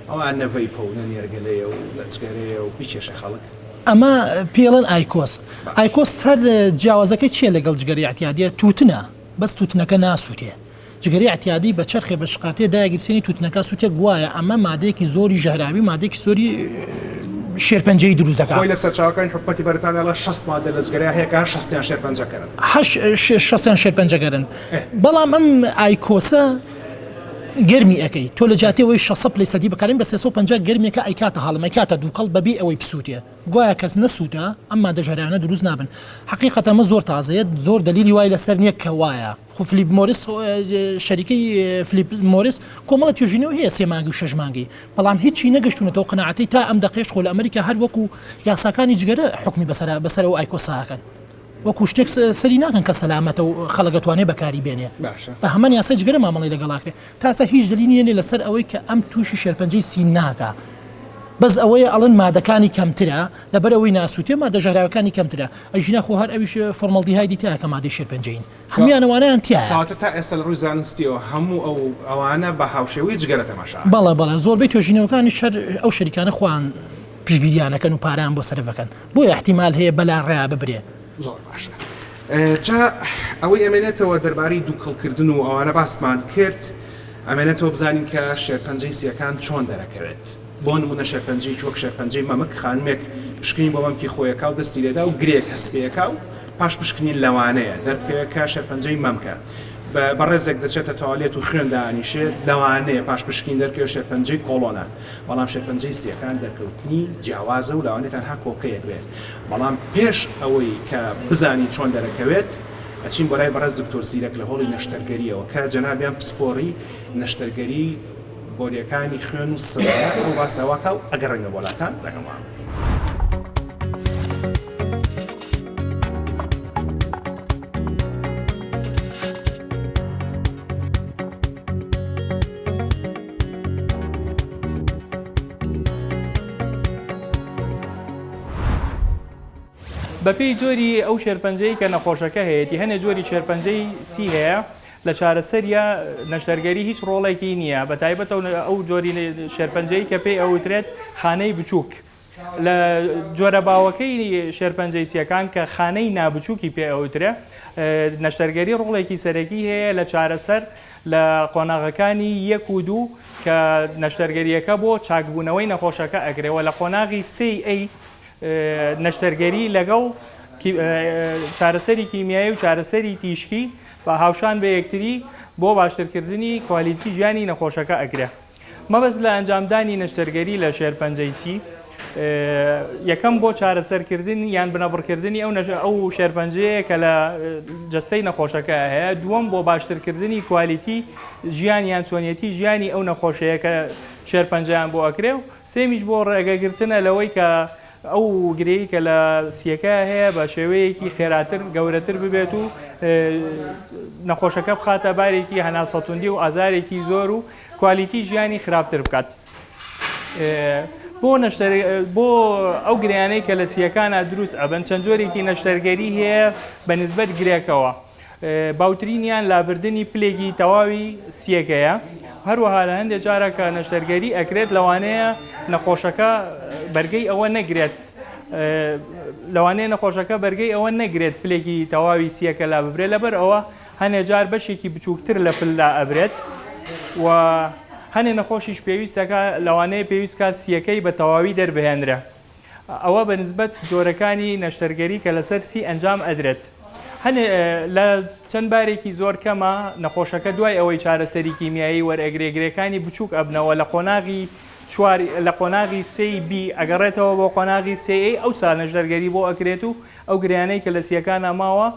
[SPEAKER 1] ئەوە نە ڤەیپە و نە نێرگەلەیە و نە جگەرەیە و بیکێشێ خەڵک. ئەمە
[SPEAKER 5] پێی ئەڵێن ئایکۆس. ئایکۆس هەر جیاوازەکەی چیە لەگەڵ جگەرەی ئیعتیادیە توتنە بەس توتنەکە ناسوتێ. جگەرەی ئەعتیادی بە چەرخێ بە شقارتێ دایەگیر سێنی توتنەکە سوتێک گوایە ئەمە مادەیەکی زۆری ژەهراوی مادەیەکی زۆری شێرپەنجەیی دروست دەکا. خۆی لە سەرچاوەکانی حکومەتی
[SPEAKER 1] بەریتانیا ئەڵێ شەست مادە لە جگەرەیا هەیە کە هەر شەستیان شێرپەنجەکەرن. هەر شەستیان
[SPEAKER 5] شێرپەنجەکەرن بەڵام ئەم ئایکۆسە گەرمی ئەکەی تۆ لە جیاتی ئەوەی شەست سەد لەی سەدی بەکاربێنی بە سێ سەد و پەنجا گەرمیەکە ئەیکاتە هەڵم ئەیکاتە دووکەڵ بەبێ ئەوەی بسوتێ گوایە کەس نەسوتا ئەم مادە ژەهراویانە دروست نابن. حەقیقەتەن ئەمە زۆر تازەیە زۆر دەلیلی وای لەسەر نیە کە وایە. فلیپ مۆریس، شەریکەی فلیپ مۆریس کۆمەڵە توێژینەوەی هەیە سێ مانگی و شەش مانگی، بەڵام هیچی نەگەشتوونەتەوە قەناعەتەی تا ئەم دەقەیەش خۆ لە ئەمریکا هەر وەکو یاساکانی جگەرە حوکمی بەسەر بەسەر ئەو ئایکۆسە ئەکەن. وەکو شتێک سەری ناکەن کە سەلامەتە و خەڵک ئەتوانێ بەکاری بێنێ. بە هەمان یاسای جگەرە مامەڵەی لەگەڵ ئەکرێ. تا ئێستا هیچ دەلیلی نێ لەسەر ئەوەی کە ئەم تووشی شێرپەنجەی سین ناکا. بەس ئەوەیە ئەڵێن مادەکانی کەمترە لەبەر ئەوەی ناسووتێ مادە ژەهراوەکانی کەمترە. ئەی ژینا خۆ هەر ئەویش فۆرمەڵدیهایدی تیایە کە مادەی شێرپەنجەیین. هەموویان ئەوانەیان تیایە. کەواتە تا ئێستا لە ڕووی
[SPEAKER 1] زانستییەوە هەموو ئەو ئەوانە بە هاوشێوەی جگەرە تەماشا ئەکەن. بەڵێ بەڵێ زۆربەی
[SPEAKER 5] توێژینەوەکانیش هەر ئەو شەریکانە خۆیان پشتگیریان ئەکەن و پارەیان بۆ سەرف ئەکەن بۆیە ئیحتیمال هەیە بەلا ڕێیا ببرێ. زۆر باشە
[SPEAKER 1] جا ئەوەی ئەمێنێتەوە دەربارەی دووکەڵ کردن و ئەوانە باسمان کرد ئەمێنێتەوە بزانین کە شێرپەنجەی سییەکان چۆن دەرەکەوێت بۆ نموونە شێرپەنجەیەکی وەک شێرپەنجەی مەمک خانمێک پشکنین بۆ مەمکی خۆی ئەکا و دەستی لێدا و گرێک هەست پێ ئەکا و پاش پشکنین لەوانەیە دەربکەوێت کە شێرپەنجەی مەمکە بە بەڕێزێک دەچێتە تەوالێت و خوێن دانیشێت، لەوانەیە پاش پشکنین دەرکەوێت شێرپەنجەی کۆڵۆنە، بەڵام شێرپەنجەی سییەکان دەرکەوتنی جیاوازە و لەوانەیە تەنها کۆکەیەک بێت، بەڵام پێش ئەوەی کە بزانین چۆن دەرەکەوێت ئەچین بۆ لای بەڕێز دکتۆر زیرەک لە هۆڵی نەشتەرگەرییەوە کە جەنابیان پسپۆڕی نەشتەرگەری بۆریەکانی خوێن و سڕە ئەو ڕاست ئەوە کە و ئەگەڕێنە وەلاتان لەگەڵ مامە.
[SPEAKER 6] بەپێی جۆری ئەو شێرپەنجەی کە نەخۆشەکە هەیەتی هەنێ جۆری شێرپەنجەی سی هەیە، لە چارەسەریا نەشتەرگەری هیچ ڕۆڵێکی نییە، بە تایبەتەوە ئەو جۆری شێرپەنجەی کە پێی ئەوترێت خانەی بچووک. لە جۆرە باوەکەی شێرپەنجەی سییەکان کە خانەی نابچووکی پێ ئەوترێ، نەشتەرگەری ڕۆڵێکی سەرەکی هەیە لە چارەسەر لە قۆناغەکانی یەک و دوو کە نەشتەرگەرییەکە بۆ چاکبوونەوەی نەخۆشەکە ئەکرێ و لە قۆناغی سێی ئەی نەشتەرگەری لەگەڵ چارەسەری کیمیایی و چارەسەری تیشکی با هاوشان بە یەکتری بۆ باشترکردنی کوالیتی ژیانی نەخۆشەکە ئەگرە. مەبەست لە ئەنجامدانی نەشتەرگەری لە شێرپەنجەی سی یەکەم بۆ چارەسەرکردن یان بنەبڕکردنی ئەو نەژە ئەو شێرپەنجەیە کە لە جەستەی نەخۆشەکە هەیە دووەم بۆ باشترکردنی کوالیتی ژیان یان چۆنیەتی ژیانی ئەو نەخۆشەیە کە شێرپەنجەیان بۆ ئەکرێ و سێمیش بۆ ڕێگەگرتنە لەوەی کە ئەو گرێی کە لە سییەکەیا هەیە بە شێوەیەکی خێراتر گەورەتر ببێت و نەخۆشەکە بخاتە بارێکی هەناسەتوندی و ئازارێکی زۆر و کوالیتی ژیانی خراپتر بکات. بۆ نەشتەر بۆ ئەو گرێیانەی کە لە سییەکانا دروست ئەبن چەند جۆرێکی نەشتەرگەری هەیە بە نسبەت گرێکەوە. باوترینیان لابردنی پلێکی تەواوی سییەکەیە، هەروەها لە هەندێک جارە کە نەشتەرگەری ئەکرێت لەوانەیە نەخۆشەکە بەرگەی ئەوە نەگرێت لەوانەیە نەخۆشەکە بەرگەی ئەوە نەگرێت پلێکی تەواوی سییەکە لاببرێت لەبەر ئەوە هەندێک جار بەشێکی بچووکتر لە پل لائەبرێت و هەندێک نەخۆشیش پێویست دەکات لەوانەیە پێویست بکات سییەکەی بە تەواوی دەربهێنرێت. ئەوە بە نسبەت جۆرەکانی نەشتەرگەری کە لەسەر سی ئەنجام ئەدرێت هەنێ لە چەند بارێکی زۆر کەمە، نەخۆشەکە دوای ئەوەی چارەسەری کیمیایی وەرئەگرێ گرێکانی بچووک ئەبنەوە لە قۆناغی چوار لە قۆناغی سێی بی ئەگەڕێتەوە بۆ قۆناغی سێ ئەی ئەوسا نەشتەرگەری بۆ ئەکرێت و ئەو گرێیانەی کە لە سییەکانا ماوە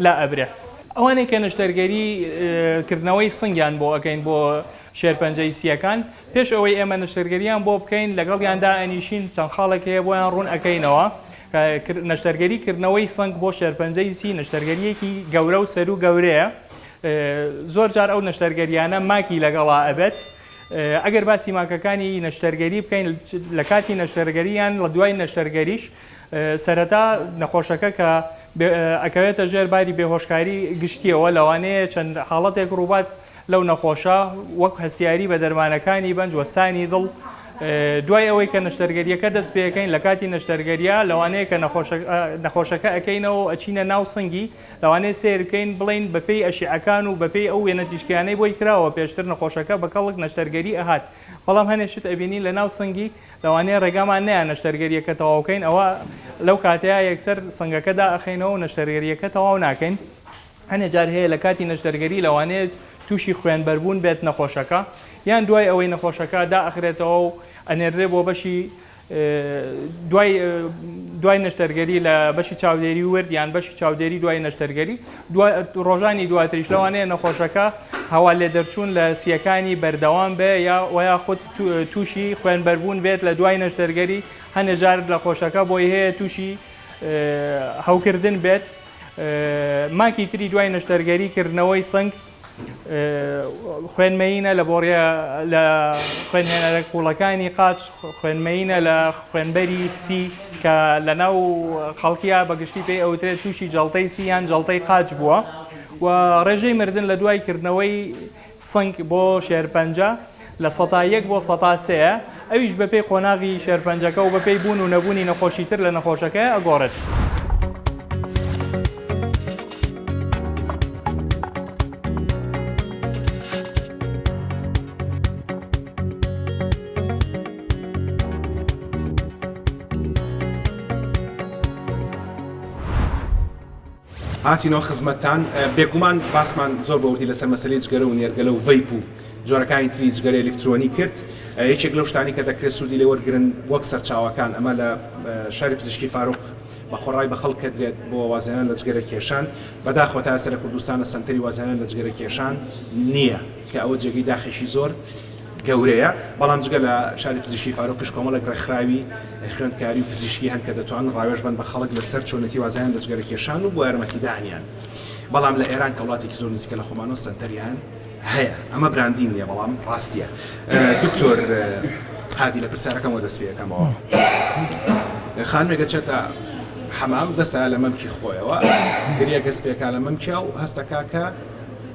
[SPEAKER 6] لا ئەبرێ. ئەوانەی کە نەشتەرگەری کردنەوەی سنگیان بۆ ئەکەین بۆ شێرپەنجەی سییەکان پێش ئەوەی ئێمە نەشتەرگەریان بۆ بکەین لەگەڵیان دائەنیشین چەند خاڵێک هەیە بۆیان ڕوون ئەکەینەوە نەشتەرگەری کردنەوەی سنگ بۆ شێرپەنجەی سی نەشتەرگەریەکی گەورە و سەرو گەورەیە زۆر جار ئەو نەشتەرگەریانە ماکی لەگەڵا ئەبێت ئەگەر باسی ماکەکانی نەشتەرگەری بکەین لە کاتی نەشتەرگەریان لە دوای نەشتەرگەریش سەرەتا نەخۆشەکە کە ئەکەوێتە ژێر باری بێهۆشکاری گشتییەوە لەوانەیە چەند حاڵەتێک ڕووبات لەو نەخۆشە وەک هەستیاری بە دەرمانەکانی بەنج وەستانی دڵ دوای ئەوەی کە نەشتەرگەریەکە دەست پێەکەین لە کاتی نەشتەرگەریا لەوانەیە کە نەخۆشەکە ئەەکەینەوە ئەچینە ناو سنگی لەوانەیە سیرکەین بڵین بەپی ئەشیعەکان و بەپی ئەو وێنە تیشکیانەی بۆی کراوە پێشتر نەخۆشەکە بە کەڵک نەشتەرگەری ئەهات بەڵام هەنێشت ئەبینین لە ناو سنگی لەوانەیە ڕێگامان نەیە نەشتەرگەرییەکە تەواو بکەین، ئەوا لەو کاتەیا یەکسەر سنگەکە دائەخەینەوە و نەشتەرگەرییەکە تەواو ناکەین. هەنێ جار هەیە لە کاتی نەشتەرگەری لەوانەیە تووشی خوێنبەربوون بێت نەخۆشەکە، یان دوای ئەوەی نەخۆشەکە دائەخرێتەوە و ئەنێردرێ بۆ بەشی دوای دوای نەشتەرگەری لە بەشی چاودێری ورد یان بەشی چاودێری دوای نەشتەرگەری دوا ڕۆژانی دواتریش لەوانەیە نەخۆشەکە هەوا لێدەرچوون لە سییەکانی بەردەوام بێ یا وە یاخود تووشی خوێنبەربوون بێت لە دوای نەشتەرگەری، هەنێ جار لەخۆشەکە بۆی هەیە تووشی هەوکردن بێت، ماکی تری دوای نەشتەرگەری کردنەوەی سنگ خوێن مەیینە لە بۆڕیە لە خوێنهێنەرە قووڵەکانی قاچ، خوێن مەیینە لە خوێنبەری سی کە لەناو خەڵکیا بە گشتی پێی ئەوترێت تووشی جەڵتەی سی یان جەڵتەی قاچ بووە و ڕێژەی مردن لە دوای کردنەوەی سنگ بۆ شێرپەنجە لە سەتا یەک بۆ سەتا سێیە، ئەویش بەپێی قۆناغی شێرپەنجەکە و بەپێی بوون و نەبوونی نەخۆشی تر لە نەخۆشەکەی ئەگۆڕێت.
[SPEAKER 1] هاتینۆ خزمەتتان، بێگومان باسمان زۆر بە وردی لەسەر مەسەلەی جگەرە و نێرگەلە و ڤەیپ و جۆرەکانی تری جگەرەی ئەلیکترۆنی کرد، یەکێک لەو شتانەی کە دەکرێت سوودی لێ وەرگرن وەک سەرچاوەکان ئەمە لە شاری پزیشکی فاروق بە خۆڕای بە خەڵک کەدرێت بۆ وازهێنان لە جگەرە کێشان، بەداخەوە تا ئێستا لە کوردستانە سەنتەری وازهێنان لە جگەرە کێشان نییە کە ئەوە جێگەی داخێکی زۆر گەورەیە، بەڵام جگە لە شاری پزیشکی فاروقیش کۆمەڵێک ڕێکخراوی خوێندکاری و پزیشکی هەن کە دەتوانن ڕاوێژ بن بە خەڵک لەسەر چۆنێتی وازهێنان لە جگەرە کێشان و بۆ یارمەتیدانیان بەڵام لە ئێران کە وڵاتێکی زۆر نزیکە لە خۆمانەوە سەنتەریان هەیە ئەمە براندین نیە بەڵام ڕاستیە دکتۆر هادی لە پرسیارەکەم وەدەست پێەکەمەوە خانمێکە چێتە حەمام دەستا لە مەمکی خۆیەوە گریە گەس پێکا لە مەمکیا و هەستەکە کە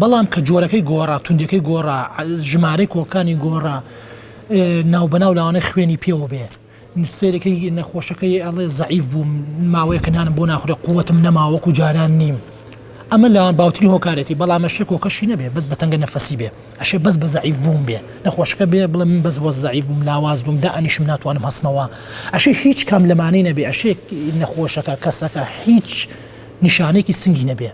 [SPEAKER 5] بەڵام کە جۆرەکەی گۆڕا، توندیەکەی گۆڕا، ژمارەی کۆڵکانی گۆڕا، ناوبەناو لەوانەیە خوێنی پێوە بێ، سەیرەکەی نەخۆشەکەی ئەڵێ زەعیف بووم، ماوەیەکە نانم بۆ ناخورێ، قووتم نەماوە وەکو جاران نیم. ئەمە لە باوترین هۆکارێتی، بەڵام ئەشێ کۆکەشی نەبێ بەس بە تەنگە نەفەسی بێ، ئەشێ بەس بە زەعیف بوون بێ نەخۆشەکە بێ بڵێ من بەس وەس زەعیف بووم لاواز بووم دائەنیشم ناتوانم هەستمەوە، ئەشێ هیچ کام لەمانەی نەبێ، ئەشێ نەخۆشەکە، کەسەکە، هیچ نیشانەیەکی سنگی نەبێ.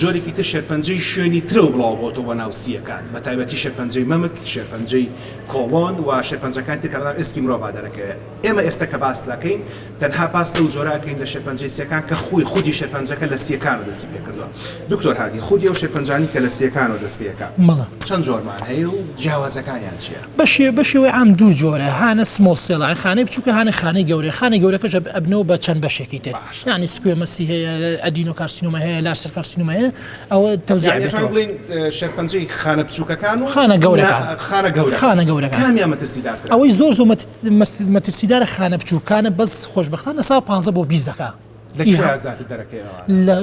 [SPEAKER 1] جۆرێکی تر شێرپەنجەی شوێنی ترەوە بڵاو بۆتەوە بۆ ناو سییەکان، بە تایبەتی شێرپەنجەی مەمک، شێرپەنجەی کۆڵۆن و شێرپەنجەکانی تر کە لە ناو ئێسکی مرۆڤا دەرەکەوێ. ئێمە ئێستە کە باس لەکەین تەنها باس لەو جۆرە ئەکەین لە شێرپەنجەی سییەکان کە خووی خودی شێرپەنجەکە لە سییەکانەوە دەستی پێ کردووە. دکتۆر هادی، خودی ئەو شێرپەنجانەی کە لە سییەکانەوە دەست پێ ئەکا چەند جۆرمان هەیە و جیاوازەکانیان چییە؟ بە شێوەی عام دوو
[SPEAKER 5] جۆرە، هانە سمۆڵ سێڵ یانی خانەی بچووکە، هانە خانەی گەورە، خانەی گەورەکەش ئەبنەوە بە چەند بەشێکی تر. یانی سکوێ مەسی هەیە ئەدینۆ کارسینۆمای هەیە لارج سێل کارسینۆمای هەیە ئەوە تەوزیع یانی ئەتوانین بێتەوە. بڵێین
[SPEAKER 1] شێرپەنجەی خانە بچووکەکان و خانە گەورەکان نا خانە
[SPEAKER 5] گەورە خانە
[SPEAKER 1] گەورەکان کامیان
[SPEAKER 5] مەترسیدارترە؟ ئەوەی
[SPEAKER 1] زۆر زۆر مەت
[SPEAKER 5] مەس مەترسیدارە خانە بچووکانە بەس خۆشبەختانە سا پانزە بۆ بیست دەکا لە کوێ ئیها زیاتر دەرەکەی ئەوانە؟ لە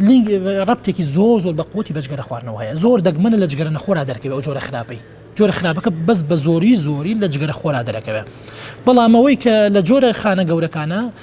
[SPEAKER 5] لینگ ڕەبتێکی زۆر زۆر بە قوەتی بە جگەرە خواردنەوە هەیە زۆر دەگمەنە لە جگەرە نەخۆرا دەرکەوێ ئەو جۆرە خراپەی جۆرە خراپەکە بەس بە زۆری زۆری لە جگەرە خۆرا دەرەکەوێ بەڵام ئەوەی کە لە جۆرە خانە گەورەکانە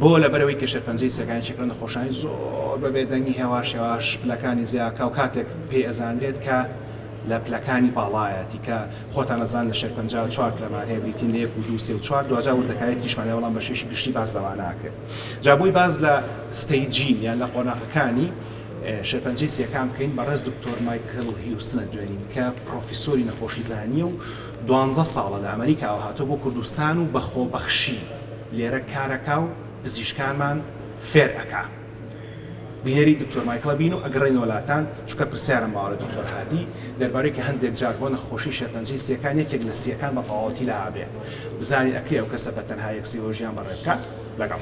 [SPEAKER 1] بۆ؟ لەبەرئەوەی کە شێرپەنجەی سەگان یەکێکە لە نەخۆشانی زۆر بە بێدەنگی هێواش هێواش پلەکانی زیاکا و کاتێک پێی ئەزانرێت کە لە پلەکانی باڵایەتی کە خۆتان ئەزانن لە شێرپەنجە چوار پلەمان هەیە بریتین لە یەک و دوو سێ و چوار دواجار وردەکاری تریشمان هەیە بەڵام بە شێشی گشتی باس لەوە ناکرێت جا بۆی باس لە ستەیجین یان لە قۆناغەکانی شێرپەنجەی سیەکان بکەین بەڕێز دکتۆر مایکل هیوسن ئەدوێنین کە پڕۆفیسۆری نەخۆشی زانییە و دوانزە ساڵە لە ئەمەریکاوە هاتووە بۆ کوردستان و بە خۆبەخشی لێرە کارەکا و پزیشکانمان فێر ئەکا بینەری دکتۆر مایکڵە بین و ئەگەڕێن وەلاتان چونکە پرسیارم ماوە لە دکتۆر هادی دەربارەوەی کە هەندێک جار بۆ نەخۆشی شێرپەنجەی سیەکان یەکێک لە سیەکان بە تەواوەتی لا ئەبێ بزانین ئەکرێ ئەو کەسە بە تەنها یەک سی بۆ ژیان بەڕێ بکا لەگەڵ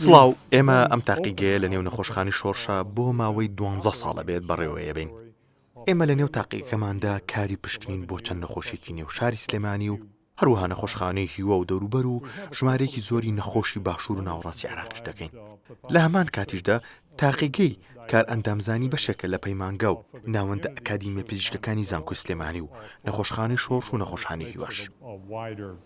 [SPEAKER 7] سڵاو، ئێمە
[SPEAKER 3] ئەم تاقیگەیە لەنێو نەخۆشخانەی شۆرشە بۆ ماوەی دوانزە ساڵ ئەبێت بەڕێوەیەبەین. ئێمە لەنێو تاقیگەکەماندا کاری پشکنین بۆ چەند نەخۆشیەکی نێو شاری سلێمانی و هەروەها نەخۆشخانەی هیوا و دەوروبەر و ژمارەیەکی زۆری نەخۆشی باشوور و ناوەڕاستی عێراقیش دەکەین لە هەمان کاتیشدا تاقیگەی کارئەندامزانی بەشێکە لە پەیمانگا و ناوەندە ئەکادیمیە پزیشکەکانی زانکۆی سلێمانی و نەخۆشخانەی شۆڕش و نەخۆشخانەی هیواش.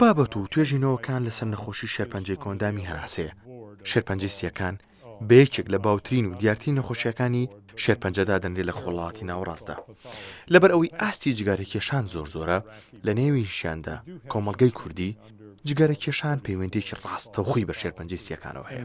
[SPEAKER 3] بابەت و توێژینەوەکان لەسەر نەخۆشی شێرپەنجەی کۆندامی هەناسەیە، شێرپەنجەی سییەکان بە یەکێک لە باوترین و دیارترین نەخۆشییەکانی شێرپەنجە دادەنرێت لە خۆڵاتی ناوەڕاستدا لەبەر ئەوەی ئاستی جگەرەکێشان زۆر زۆرە لە نێویشیاندا کۆمەڵگەی کوردی جگەرەکێشان پەیوەندیەکی ڕاستەوخۆی بە شێرپەنجەی سییەکانەوە
[SPEAKER 7] هەیە.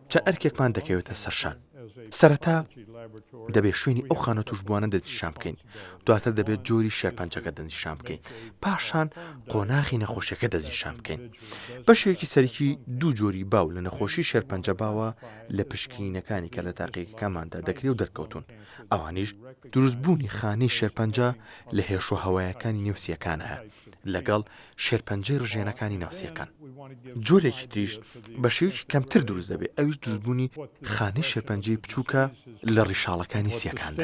[SPEAKER 3] چەند ئەرکێکمان دەکەوێتە سەرشان. سەرەتا دەبێت شوێنی ئەو خانە توشبووانە دەستنیشان بکەین، دواتر دەبێت جۆری شێرپەنجەکە دەستنیشان بکەین، پاشان قۆناغی نەخۆشیەکە دەستنیشان بکەین. بەشێکی سەرەکی دوو جۆری باو لە نەخۆشی شێرپەنجە باوە لە پشکینینەکانی کە لە تاقیگەکەماندا دەکرێ و دەرکەوتوون، ئەوانیش دروستبوونی خانەی شێرپەنجە لە هێشوهەوایەکانی نێو سییەکانایە لەگەڵ شێرپەنجەی ڕژێنەکانی ناو سییەکان. جۆرێکی تریش بە شێوەیەکی کەمتر دروست دەبێت، ئەویش دروستبوونی خانەی شێرپەنجەی بچووکە لە
[SPEAKER 7] ڕیشاڵەکانی سییەکاندا.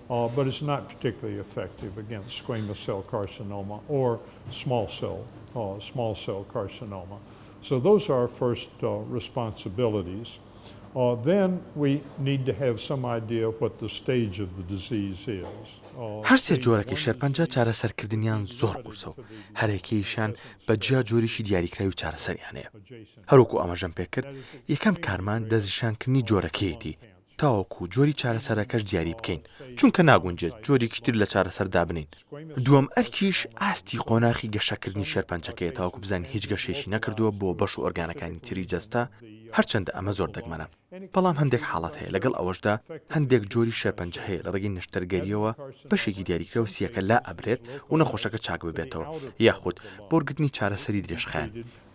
[SPEAKER 7] بەرز ناک پتیکلی ئیفێکتیڤ ئەگەینست سکوەیمەس سێڵ کارسینۆما ئۆر سماڵ سێڵ سماڵ سێڵ کارسینۆما سۆ دۆز ئار فێرست ڕیسپانسبیلیتیز دێن وی نید دە هەیڤ سەم ئایدیا وەت دە ستەیج ئۆف دە دیزیز ئیز. هەر سێ
[SPEAKER 3] جۆرەکەی شێرپەنجە چارەسەرکردنیان زۆر قورسە و هەرێکەیشیان بە جیا جۆریی دیاریکراوی چارەسەریان هەیە. هەروەکو ئاماژەم پێکرد یەکەم کارمان دەستنیشانکردنی جۆرەکەیەتی، تاوەکو جۆری چارەسەرەکەش دیاری بکەین، چونکە ناگونجێت جۆرێکی تر لە چارەسەر دابنێین. دووەم ئەرکیش ئاستی قۆناخی گەشەکردنی شێرپەنجەکەیە تاوەکو بزانین هیچ گەشەیەکی نەکردووە بۆ بەش و ئۆرگانەکانی تری جەستە، هەرچەندە ئەمە زۆر دەگمەنە، بەڵام هەندێک حاڵەت هەیە، لەگەڵ ئەوەشدا هەندێک جۆری شێرپەنجە هەیە لە ڕێگەی نەشتەرگەرییەوە بەشێکی دیاریکراو سییەکە لائەبرێت و نەخۆشەکە چاک ببێتەوە یاخود بۆ وەرگرتنی چارەسەری درێژخایەن.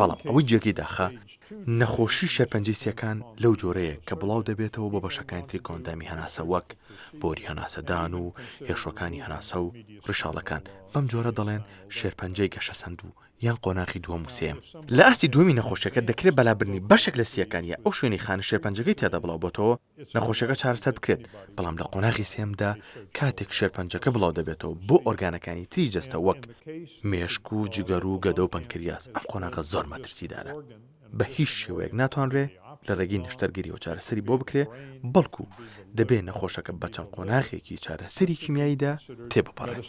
[SPEAKER 7] بەڵام
[SPEAKER 3] ئەوەی جێگەی داخە، نەخۆشی شێرپەنجەی سییەکان لەو جۆرەیە کە بڵاو دەبێتەوە بۆ بەشەکانی تری کۆئەندامی هەناسە وەک بۆری هەناسەدان و هێشوەکانی هەناسە و ڕیشاڵەکان، بەم جۆرە دەڵێن شێرپەنجەی گەشەسەندوو یان قۆناغی دووەم و سێیەم. لە ئاستی دووەمی نەخۆشییەکە دەکرێت بەلابردنی بەشێک لە سییەکان یا ئەو شوێنەی خانە شێرپەنجەکەی تیادا بڵاو بۆتەوە، نەخۆشیەکە چارەسەر بکرێت، بەڵام لە قۆناغی سێیەمدا کاتێک شێرپەنجەکە بڵاو دەبێتەوە بۆ ئۆرگانەکانی تری جەستە وەک مێشک و جگەر و گەدە و پەنکریاس، ئەم قۆناغە زۆر مەترسیدارە بە هیچ شێوەیەک ناتوانرێ لە رێگەی نەشتەرگەریەوە چارەسەری بۆ بکرێ، بەڵکو دەبێ نەخۆشەکە بە چەند قۆناغێکی چارەسەری کیمیاییدا تێبپەڕێت.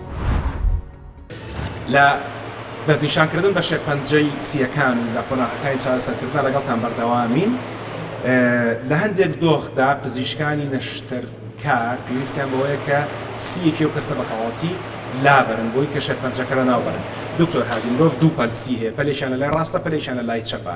[SPEAKER 1] لە دەستنیشانکردن بە شێرپەنجەی سییەکان و لە قۆناغەکانی چارەسەرکردنا لەگەڵتان بەردەوامین. لە هەندێک دۆخدا پزیشکانی نەشتەرکار پێویستیان بەوەیە کە سییەکی ئەو کەسە بەتەواوەتی لابەرن بۆی کە شێرپەنجەکە لەناوبەرن. دکتۆر هادی، مرۆڤ دوو پەل سی هەیە، پەلێکیان لەلای ڕاستە، پەلێکیان لەلای چەپە.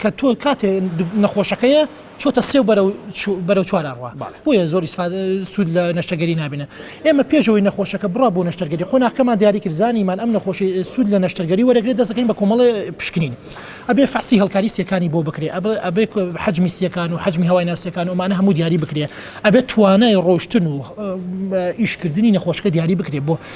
[SPEAKER 1] کە
[SPEAKER 5] تۆ کاتێ
[SPEAKER 1] نەخۆشەکەیە
[SPEAKER 5] چۆتە سێو بەرەو بەرەو چوارا ڕوا بۆیە زۆر سوود لە نەشتەگەری نابێنە ئێمە پێشەوەی نەخۆشەکە بڕا بۆ نەشتەرگەری قۆناخەمان دیاری کرزانیمان ئەم نەخۆشی سوود لە نەشتەرگەری وەرەگرێت دەستەکەین بە کۆمەڵی پشکنین ئەبێ فەحسی هەڵکاری سیەکانی بۆ بکرێ ئەبێ حجمی سیەکان و حجمی هەوای ناوسەکان و ئەمانە هەموو دیاری بکرێ ئەبێت توانای ڕۆشتن و ئیشکردنی نەخۆشکە دیاری بکرێ بۆ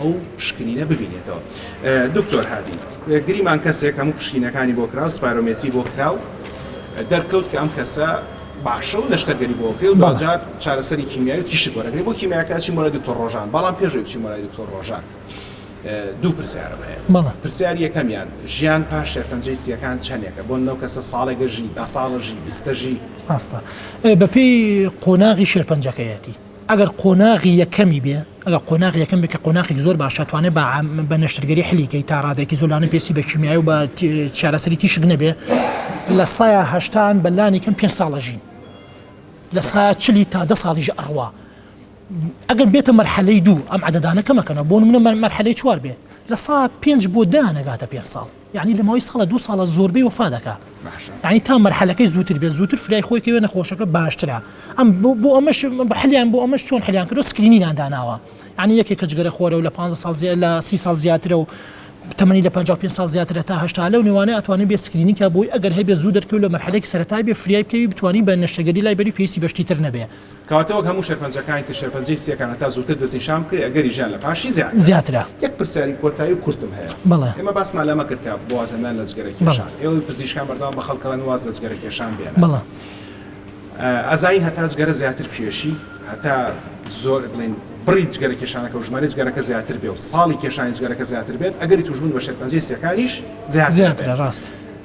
[SPEAKER 1] ئەو پشکنینە ببینێتەوە دکتۆر هادی گریمان کەسێک هەموو پشکینەکانی بۆ کراو سپارۆمێتری بۆ کراو دەرکەوت کە ئەم کەسە باشە و نەشتەرگەری بۆ کرێ و دواجار چارەسەری کیمیاوی تیشک وەرەگری بۆ کیمیاکە ئەچی مۆلای دکتۆر ڕۆژان بەڵام پێشەوەی بچی مۆلای دکتۆر ڕۆژان دوو پرسیارم هەیە پرسیاری یەکەمیان ژیان پاش شێرپەنجەی سیەکان چەندێکە بۆن نەو کەسە ساڵێگە ژی دە ساڵە ژی بیستە ژی ڕاستە
[SPEAKER 5] بەپێی قۆناغی شێرپەنجەکەیەتی ئەگەر قۆناغی یەکەمی بێ ئەگەر قۆناغی یەکەم بێ کە قۆناخێکی زۆر باشە توانێ بە بە نەشتەرگەری حلی کەی تا ڕادێکی زۆر لانە پێسی بە کیمیایی و بە چارەسەری تیشک نەبێ لە سایە هەشتان بە لانی کەم پێ ساڵە ژین لە سایە چلی تا دە ساڵیش ئەڕوا ئەگەر بێتە مەرحەلەی دوو ئەم عددانە کەمەکەنە بۆ منە مەرحەلەی چوار بێ لە سا پێنج بۆ دانەگاتە پێ ساڵ یەعنی لەماوەی ساڵە دوو ساڵە زۆربەی وەفا دەکا یەعنی تا مەرحەلەکەی زووتر بێت زووتر فرای خۆی کەوێ نەخۆشەکە باشترە ئەم بۆ ئەمەش حلیان بۆ ئەمەش چۆن حلیان کردو سکرینینان داناوە یعنی یەکێک کە جگەرە خۆرە و لە 15 ساڵ زیاد لە سی ساڵ زیاترە و تەمەنی لە 55 ساڵ زیاترە تا هەشتا لەو نێوانە ئەتوانێت بێ سکرینی کە بۆی ئەگەر هەبێ زوو دەرکەوت لە مەرحەلەی سەرەتای بێ فریای بکەوی بتوانی بە نەشتەگەری لای بەری پێویستی بەشتی تر نەبێ کەواتە وەک هەموو
[SPEAKER 1] شێرپەنجەکانی تر شێرپەنجەی سییەکان هەتا زووتر دەستنیشان بکرێت ئەگەری ژیان لە پاشی زیاترە. زیاترە. یەک
[SPEAKER 5] پرسیاری کۆتایی
[SPEAKER 1] و کورتم هەیە. بەڵێ. ئێمە باسمان لەمە
[SPEAKER 5] کرد کە
[SPEAKER 1] بۆ وازهێنان لە جگەرە کێشان بەڵێ. ئێوەی پزیشکان بەردەوام بە خەڵک ئەڵێن واز لە جگەرە کێشان بێنە. بەڵێ. ئەزانین هەتا جگەرە زیاتر کێشی هەتا زۆر بڵێین بڕی جگەرە کێشانەکە و ژمارەی جگەرەکە زیاتر بێ و ساڵی کێشانی جگەرەکە زیاتر بێت ئەگەری تووشبوون بە شێرپەنجەی سییەکانیش زیاتر دەبێت. زیاترە
[SPEAKER 5] ڕاستە.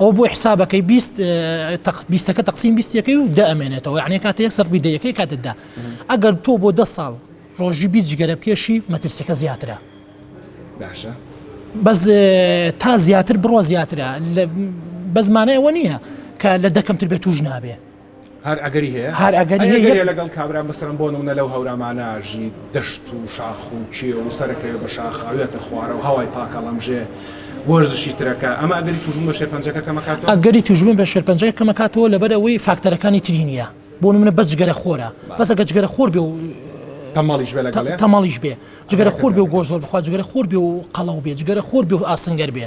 [SPEAKER 5] ئەوە بۆی حسابەکەی بیست تەق بیستەکە تەقسیم بیستەکەی و دە ئەمێنێتەوە یعنی کاتە یەک سەر ڕووی دەیەکەی کاتتدا ئەگەر تۆ بۆ دە ساڵ ڕۆژی بیست جگەرە بکێشی مەترسیەکە زیاترە باشە
[SPEAKER 1] بەس
[SPEAKER 5] تا زیاتر بڕە زیاترە بەزمانە ئەوە نییە کە لە دەکەمتر بێت توش نابێ هەر ئەگەری
[SPEAKER 1] هەیە؟ هەر ئەگەری هەیە. ئەگەرێ
[SPEAKER 5] لەگەڵ کابرا مەسەلەن
[SPEAKER 1] بۆ نموونە لەو هەورامانە ژی دەشت و شاخ و کێو و سەرەکەوێ بە شاخ ئەوێتە خوارەوە هەوای پاک ئەڵەمژێ وەرزشی ترەکە ئەمە ئەگەری تووشبوون بە شێرپەنجەکە کەم ئەکاتەوە؟ ئەگەری تووشبوون بە
[SPEAKER 5] شێرپەنجەکە کەم ئەکاتەوە لەبەر ئەوەی فاکتەرەکانی تری نییە بۆ نموونە بەس جگەرە خۆرە بەس ئەگەر جگەرە خۆر بێ و تەمەڵیش بێ
[SPEAKER 1] لەگەڵێ تەمەڵیش بێ جگەرە
[SPEAKER 5] خۆر بێ و گۆشت زۆر بخوا جگەرە خۆر بێ و قەڵەو بێ جگەرە خۆر بێ و ئاسنگەر بێ.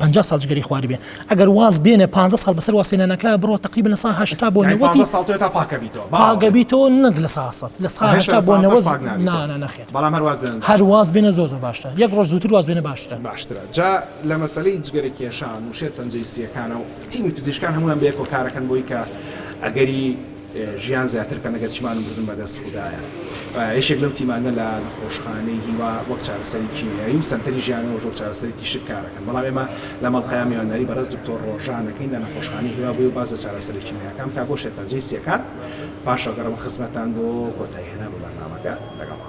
[SPEAKER 5] پەنجا ساڵ جگەری خوارد بێ ئەگەر واز بێنێ پانزە ساڵ بەسەر واسێنانەکە بڕۆ تەقریبەن لە سا هەشتا بۆ نەوەتی یانی پانزە ساڵ تۆ تا پاک ئەبیتەوە
[SPEAKER 1] باوەڕ پاک ئەبیتەوە
[SPEAKER 5] نەک لە سا سەد لە سا هەشتا بۆ نەوەت پاک نابیتەوە نا نا نەخێر بەڵام هەر واز بێنن هەر
[SPEAKER 1] واز بێنە زۆر زۆر
[SPEAKER 5] باشترە یەک ڕۆژ زووتر واز بێنە باشترە. باشترە جا
[SPEAKER 1] لە مەسەلەی جگەرە کێشان و شێرپەنجەی سییەکانەوە تیمی پزیشکان هەموویان بەیەکەوە کارەکەن بۆی کە ئەگەری. ژیان زیاتر بکەن ئەگەر چمان و مردن بەدەست خودایە یەکێک لەو تیمانە لە نەخۆشخانەی هیوا وەک چارەسەری کیمیایی و سەنتەری ژیانەوەش وەک چارەسەری تیشک کارەکەن بەڵام ئێمە لە مەڵقەیا میوانداری بەڕێز دکتۆر ڕۆژان ئەکەین لە نەخۆشخانەی هیوا بۆی و باس لە چارەسەرە کیمیایەکان بکات بۆ شێرپەنجەی سیەکان پاشەوەگەڕێمە خزمەتتان بۆ کۆتایی هێنان بە بەرنامەکە لەگەڵ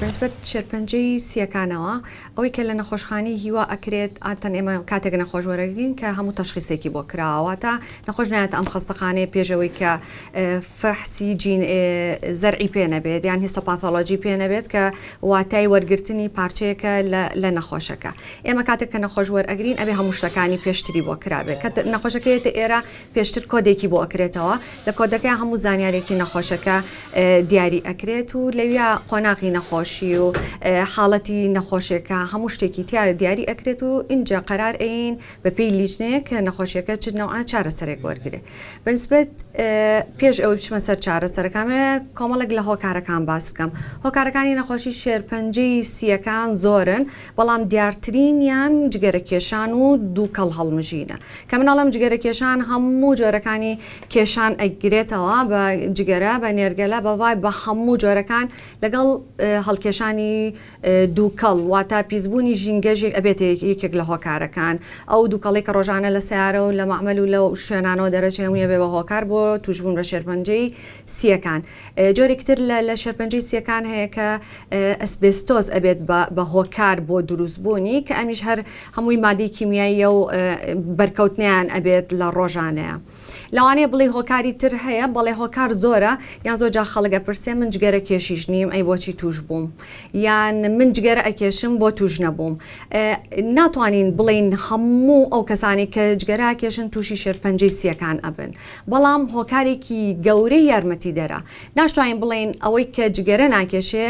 [SPEAKER 8] بەنسبەت شێرپەنجەی سییەکانەوە ئەوەی کە لە نەخۆشخانەی هیوا ئەکرێت عادەتەن ئێمە کاتێک نەخۆش وەرەگرین کە هەموو تەشخیسێکی بۆ کراوە واتە نەخۆش نایەتە ئەم خەستەخانەیە پێش ئەوەی کە فەحسی جین زەرعی پێ نەبێت یان هیستۆپاثۆلۆجی پێ نەبێت کە واتای وەرگرتنی پارچەیەکە لە نەخۆشەکە ئێمە کاتێک کە نەخۆش وەرەگرین ئەبێ هەموو شتەکانی پێشتری بۆ کرابێت کە نەخۆشەکە یەتە ئێرە پێشتر کۆدێکی بۆ ئەکرێتەوە لە کۆدەکەی هەموو زانیارێکی نەخۆشەکە دیاری ئەکرێت و لەویا قۆناغی نەخۆشی و حاڵەتی نەخۆشیەکە هەموو شتێکی تیا دیاری ئەکرێت و اینجا قەرار ئەین بە پێی لیژنەیە کە نەخۆشیەکە چ نەوە چارەسەرێک وەرگێ بەنسبەت پێش ئەوەی بچمە سەر چارەسەرەکانێ کۆمەڵک لە هۆکارەکان باس بکەم هۆکارەکانی نەخۆشی شێرپەنجەی سیەکان زۆرن بەڵام دیارترینیان جگەرەکێشان و دووکەڵ هەڵمژینە، کە من ئەڵێم جگەرەکێشان هەموو جۆرەکانی کێشان ئەیگرێتەوە بە جگەرە، بە نێرگەلە، بە ڤایپ، بە هەموو جۆرەکان لەگەڵ هەڵکێشانی دووکەڵ، واتە پیسبوونی ژینگەژی ئەبێتە یەکێک لە هۆکارەکان، ئەو دووکەڵەی کە ڕۆژانە لە سەیارە و لە مەعمەل و لەو شوێنانەوە دەرەچێ هەمووی ئەبێ بە هۆکار بۆ تووشبوون بە شێرپەنجەی سییەکان. جۆرێکی تر لە لە شێرپەنجەی سییەکان هەیە کە ئەسبێستۆز ئەبێت بە هۆکار بۆ دروستبوونی کە ئەمیش هەر هەمووی مادەی کیمیاییە و بەرکەوتنیان ئەبێت لە ڕۆژانەیە لەوانەیە بڵی هۆکاری تر هەیە بەڵێ هۆکار زۆرە یان زۆر جا خەڵگە پرسێ من جگەرە کێشیش نیم ئەی بۆچی توش بووم یان من جگەرە ئەکێشم بۆ توش نەبووم ناتوانین بڵین هەموو ئەو کەسانی کە جگەرا کێشن تووشی شێرپەنجەی سیەکان ئەبن بەڵام هۆکارێکی گەورەی یارمەتیدەرە. ناشتوانین بڵێین ئەوەی کە جگەرە ناکێشێ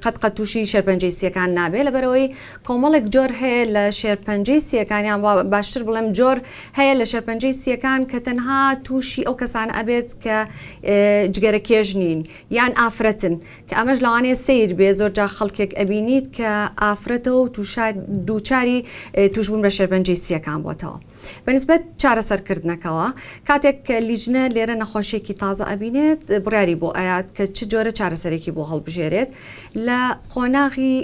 [SPEAKER 8] قەت قەت تووشی شێرپەنجەی سییەکان نابێ، لەبەرئەوەی کۆمەڵێک جۆر هەیە لە شێرپەنجەی سییەکان یان وا باشتر بڵێم جۆر هەیە لە شێرپەنجەی سییەکان کە تەنها تووشی ئەو کەسانە ئەبێت کە جگەرەکێش نین یان ئافرەتن کە ئەمەش لەوانەیە سەیر بێ زۆرجا خەڵکێک ئەبینیت کە ئافرەتە و تووشا دووچاری تووشبوون بە شێرپەنجەی سییەکان بۆتەوە. بەنیسبەت چارەسەرکردنەکەوە، کاتێک کە لیجنە لێرە نەخۆشیەکی تازە ئەبینێت بڕیاری بۆ ئەیات کە چ جۆرە چارەسەرێکی بۆ هەڵبژێرێت لە قۆناغی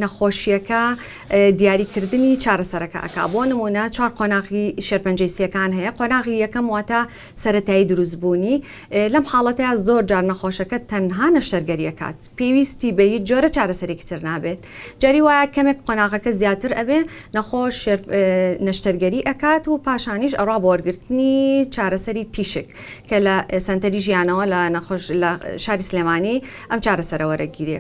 [SPEAKER 8] نەخۆشیەکە دیاریکردنی چارەسەرەکە ئەک بۆ نمونە چوار قۆناغی شێرپەنجەی سیەکان هەیە قۆناغی یەکەم واتە سەتایی دروستبوونی لەم حاڵەتە زۆر جار نەخۆشەکە تەنها نەشتەرگەریەکات. پێویستی بە هیچ جۆرە چارەسەرێکی تر نابێت جاری وایە کەمێک قۆناغەکە زیاتر ئەبێ نەخۆش شێر نەشتەرگەری ئەکات و پاشانیش ئەڕا بۆ وەرگرتنی چارەسەری تیشک کە لە سەنتەری ژیانەوە لە نەخۆش لە شاری سلێمانی ئەم چارەسەرە وەرەگیرێ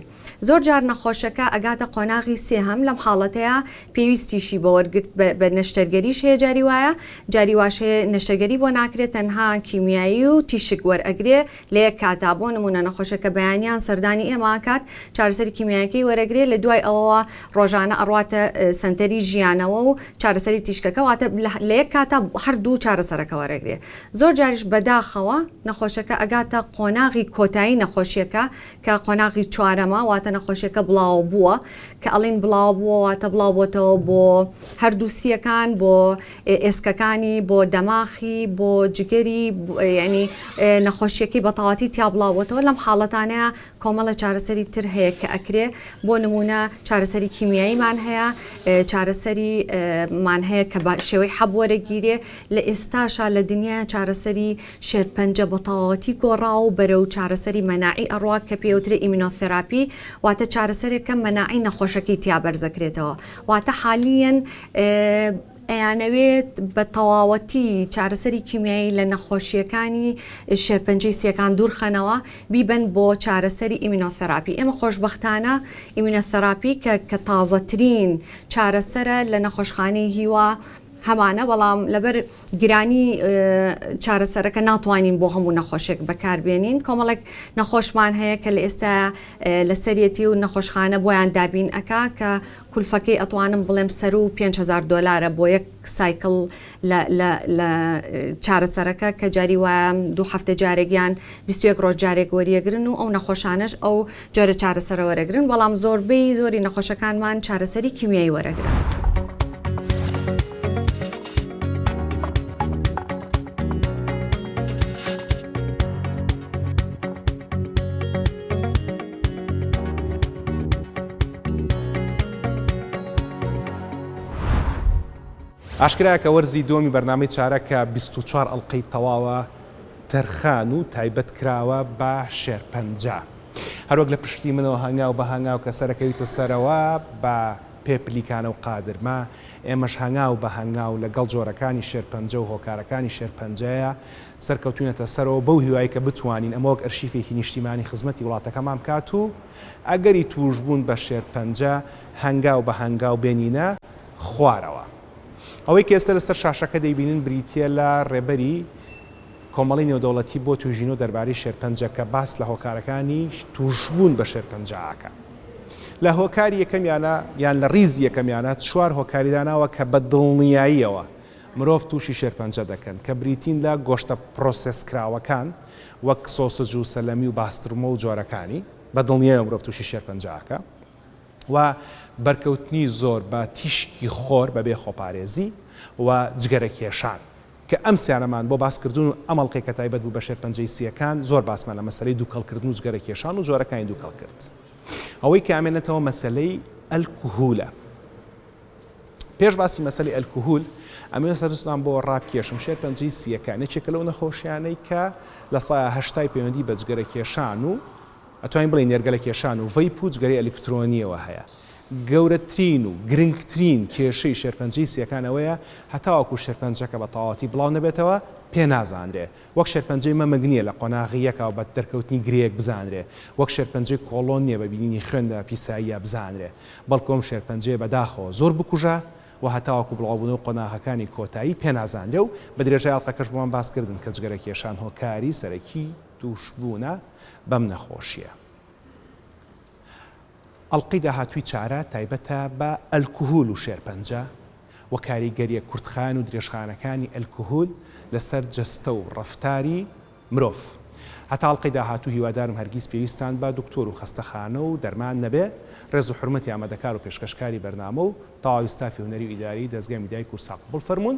[SPEAKER 8] زۆر جار نەخۆشەکە ئەگاتە قۆناغی سێهەم لەم حاڵەتەیە پێویستیشی بە وەرگرت بە نەشتەرگەریش هەیە جاری وایە جاری واش هەیە نەشتەرگەری بۆ ناکرێت تەنها کیمیایی و تیشک وەرئەگرێ لە یەک کاتدا، بۆ نموونە نەخۆشێک کە بەیانیان سەردانی ئێمە ئەکات، چارەسەری کیمیاییەکەی وەرەگرێ، لە دوای ئەوەوە ڕۆژانە ئەڕواتە سەنتەری ژیانەوە و چارەسەری تیشکەکە، واتە لە یەک کاتدا هەر دوو چارەسەرەکە وەرەگرێ. زۆر جاریش بەداخەوە نەخۆشەکە ئەگاتە قۆناغی کۆتایی نەخۆشیەکە کە قۆناغی چوارەمە، واتە نەخۆشیەکە بڵاوەبووە، کە ئەڵێین بڵاوەبووە واتە بڵاوبۆتەوە بۆ هەردوو سییەکان، بۆ. ئێسکەکانی بۆ دەماخی بۆ جگەری یعنی نەخۆشیەکەی بەتەواتی تیا بڵاوبتەوە لەم حاڵەتانەیە کۆمەڵە چارەسەری تر هەیە کە ئەکرێ بۆ نمونە چارەسەری کیمیاییمان هەیە چارەسەری مان هەیە کە بە شێوەی حەب وەرەگیرێ لە ئێستاشا لە دنیا چارەسەری شێرپەنجە بەتەواتی گۆڕا و بەرە و چارەسەری مەناعی ئەڕوا کە پێوترە ئیمینۆثراپی واتە چارەسەرێکە مەناعی نەخۆشەکەی تیا بەرزەکرێتەوە واتە حالیەن ئەیانەوێت بە تەواوەتی چارەسەری کیمیایی لە نەخۆشییەکانی شێرپەنجەی سییەکان دوورخەنەوە بیبەن بۆ چارەسەری ئیمینۆثراپی ئێمە خۆشبەختانە ئیمینۆثراپی کە کە تازەترین چارەسەرە لە نەخۆشخانەی هیوا هەمانە بەڵام لەبەر گرانی چارەسەرەکە ناتوانین بۆ هەموو نەخۆشێک بەکاربێنین کۆمەڵێک نەخۆشمان هەیە کە لە ئێستا لەسەرەتی و نەخۆشخانە بۆیان دابین ئەک کە کلفەکەی ئەتوانم بڵێم سەرو پێنج هەزار دۆلارە بۆ یەک سایکڵ لە لە لە چارەسەرەکە کە جاری وایە دوو هەفتە جارێک یان بیست و یەک ڕۆژ جارێک وەریەگرن و ئەو نەخۆشانەش ئەو جۆرە چارەسەرە وەرەگرن بەڵام زۆربەی زۆری نەخۆشەکانمان چارەسەری کیمیایی وەرەگرن.
[SPEAKER 1] ئاشکرایە کە وەرزی دووەمی بەرنامەی چارە کە بیست و چوار ئەڵقەی تەواوە تەرخان و تایبەت کراوە بە شێرپەنجە هەروەک لە پشتی منەوە هەنگاو بە هەنگاو کە سەرەکەویتە سەرەوە بە پێ پلیکانە و قادرمە ئێمەش هەنگاو بە هەنگاو لەگەڵ جۆرەکانی شێرپەنجە و هۆکارەکانی شێرپەنجەیە سەرکەوتوینەتە سەرەوە بەو هیوای کە بتوانین ئەمە وەک ئەرشیفێکی نیشتیمانی خزمەتی وڵاتەکەمان بکات و ئەگەری توشبوون بە شێرپەنجە هەنگاو بە هەنگاو بێنینە خوارەوە. ئەوەی کە ئێستا لەسەر شاشەکە دەیبینن بریتیە لە رێبەری کۆمەڵەی نێودەوڵەتی بۆ تویژینەوە دەربارەی شێرپەنجە کە باس لە هۆکارەکانی توشبوون بە شێرپەنجە ئەکا. لە هۆکاری یەکەمیانە یان لە ریزی یەکەمیانە چوار هۆکاری داناوە کە بە دڵنیاییەوە مرۆڤ تووشی شێرپەنجە دەکەن، کە بریتین لە گۆشتە پرۆسێسکراوەکان وەک سۆسج و سەلەمی و باسترمە و جۆرەکانی، بە دڵنیایەوە مرۆڤ تووشی شێرپەنجە ئەکا و بەرکەوتنی زۆر بە تیشکی خۆر بەبێ خۆپارێزی و جگەرە کێشان، کە ئەم سیانەمان بۆ باس کردوون و ئەم ئەڵقەی کە تایبەت بوو بە شێرپەنجەی سییەکان زۆر باسمان لە مەسەلەی دووکەڵ کردن و جگەرە کێشان و جۆرەکانی دووکەڵ کرد. ئەوەی کە ئەمێنێتەوە مەسەلەی ئەلکهولە. پێش باسی مەسەلی ئەلکهول ئەمەوێ سەرنجتان بۆ ڕابکێشم شێرپەنجەی سییەکان یەکێکە لەو نەخۆشیانەی کە لە سایە هەشتای پەیوەندی بە جگەرەکێشان و ئەتوانین بڵێ نێرگەلەکێشان و ڤەیپ و جگەرەی ئەلیکترۆنیەوە هەیە گەورەترین و گرنگترین کێشەی شێرپەنجەی سییەکان ئەوەیە هەتاوەکو شێرپەنجەکە بە تەواوەتی بڵاو نەبێتەوە پێ نازانرێ وەک شێرپەنجەی مەمک نییە لە قۆناغی یەکا و بە دەرکەوتنی گرێیەک بزانرێ، وەک شێرپەنجەی کۆڵۆن نییە بە بینینی خوێن لە پیساییە بزانرێ، بەڵکو ئەم شێرپەنجەیە بە داخەوە زۆر بکوژە و هەتاوەکو بڵاوبوونە و قۆناغەکانی کۆتایی پێ نازانرێ و بە درێژای ئەڵقەکەش بۆمان باس کردن کە جگەرەکێشان هۆکاری سەرەکی تووشبوونە بەم نەخۆشییە. ئەڵقەی داهاتووی چارە تایبەتە بە ئەلکهول و شێرپەنجە و کاریگەرییە کورتخایەن و درێژخایەنەکانی ئەلکهول لەسەر جەستە و ڕەفتاری مرۆڤ. هەتا ئەڵقەی داهاتوو هیوادارم هەرگیز پێویستتان بە دکتۆر و خەستەخانە و دەرمان نەبێ. ڕێز و حورمەتی ئامادەکار و پێشکەشکاری بەرنامە و تەواوی ستافی هونەری و ئیداریی دەزگای میدیای کوردسات. قبوڵ فەرموون.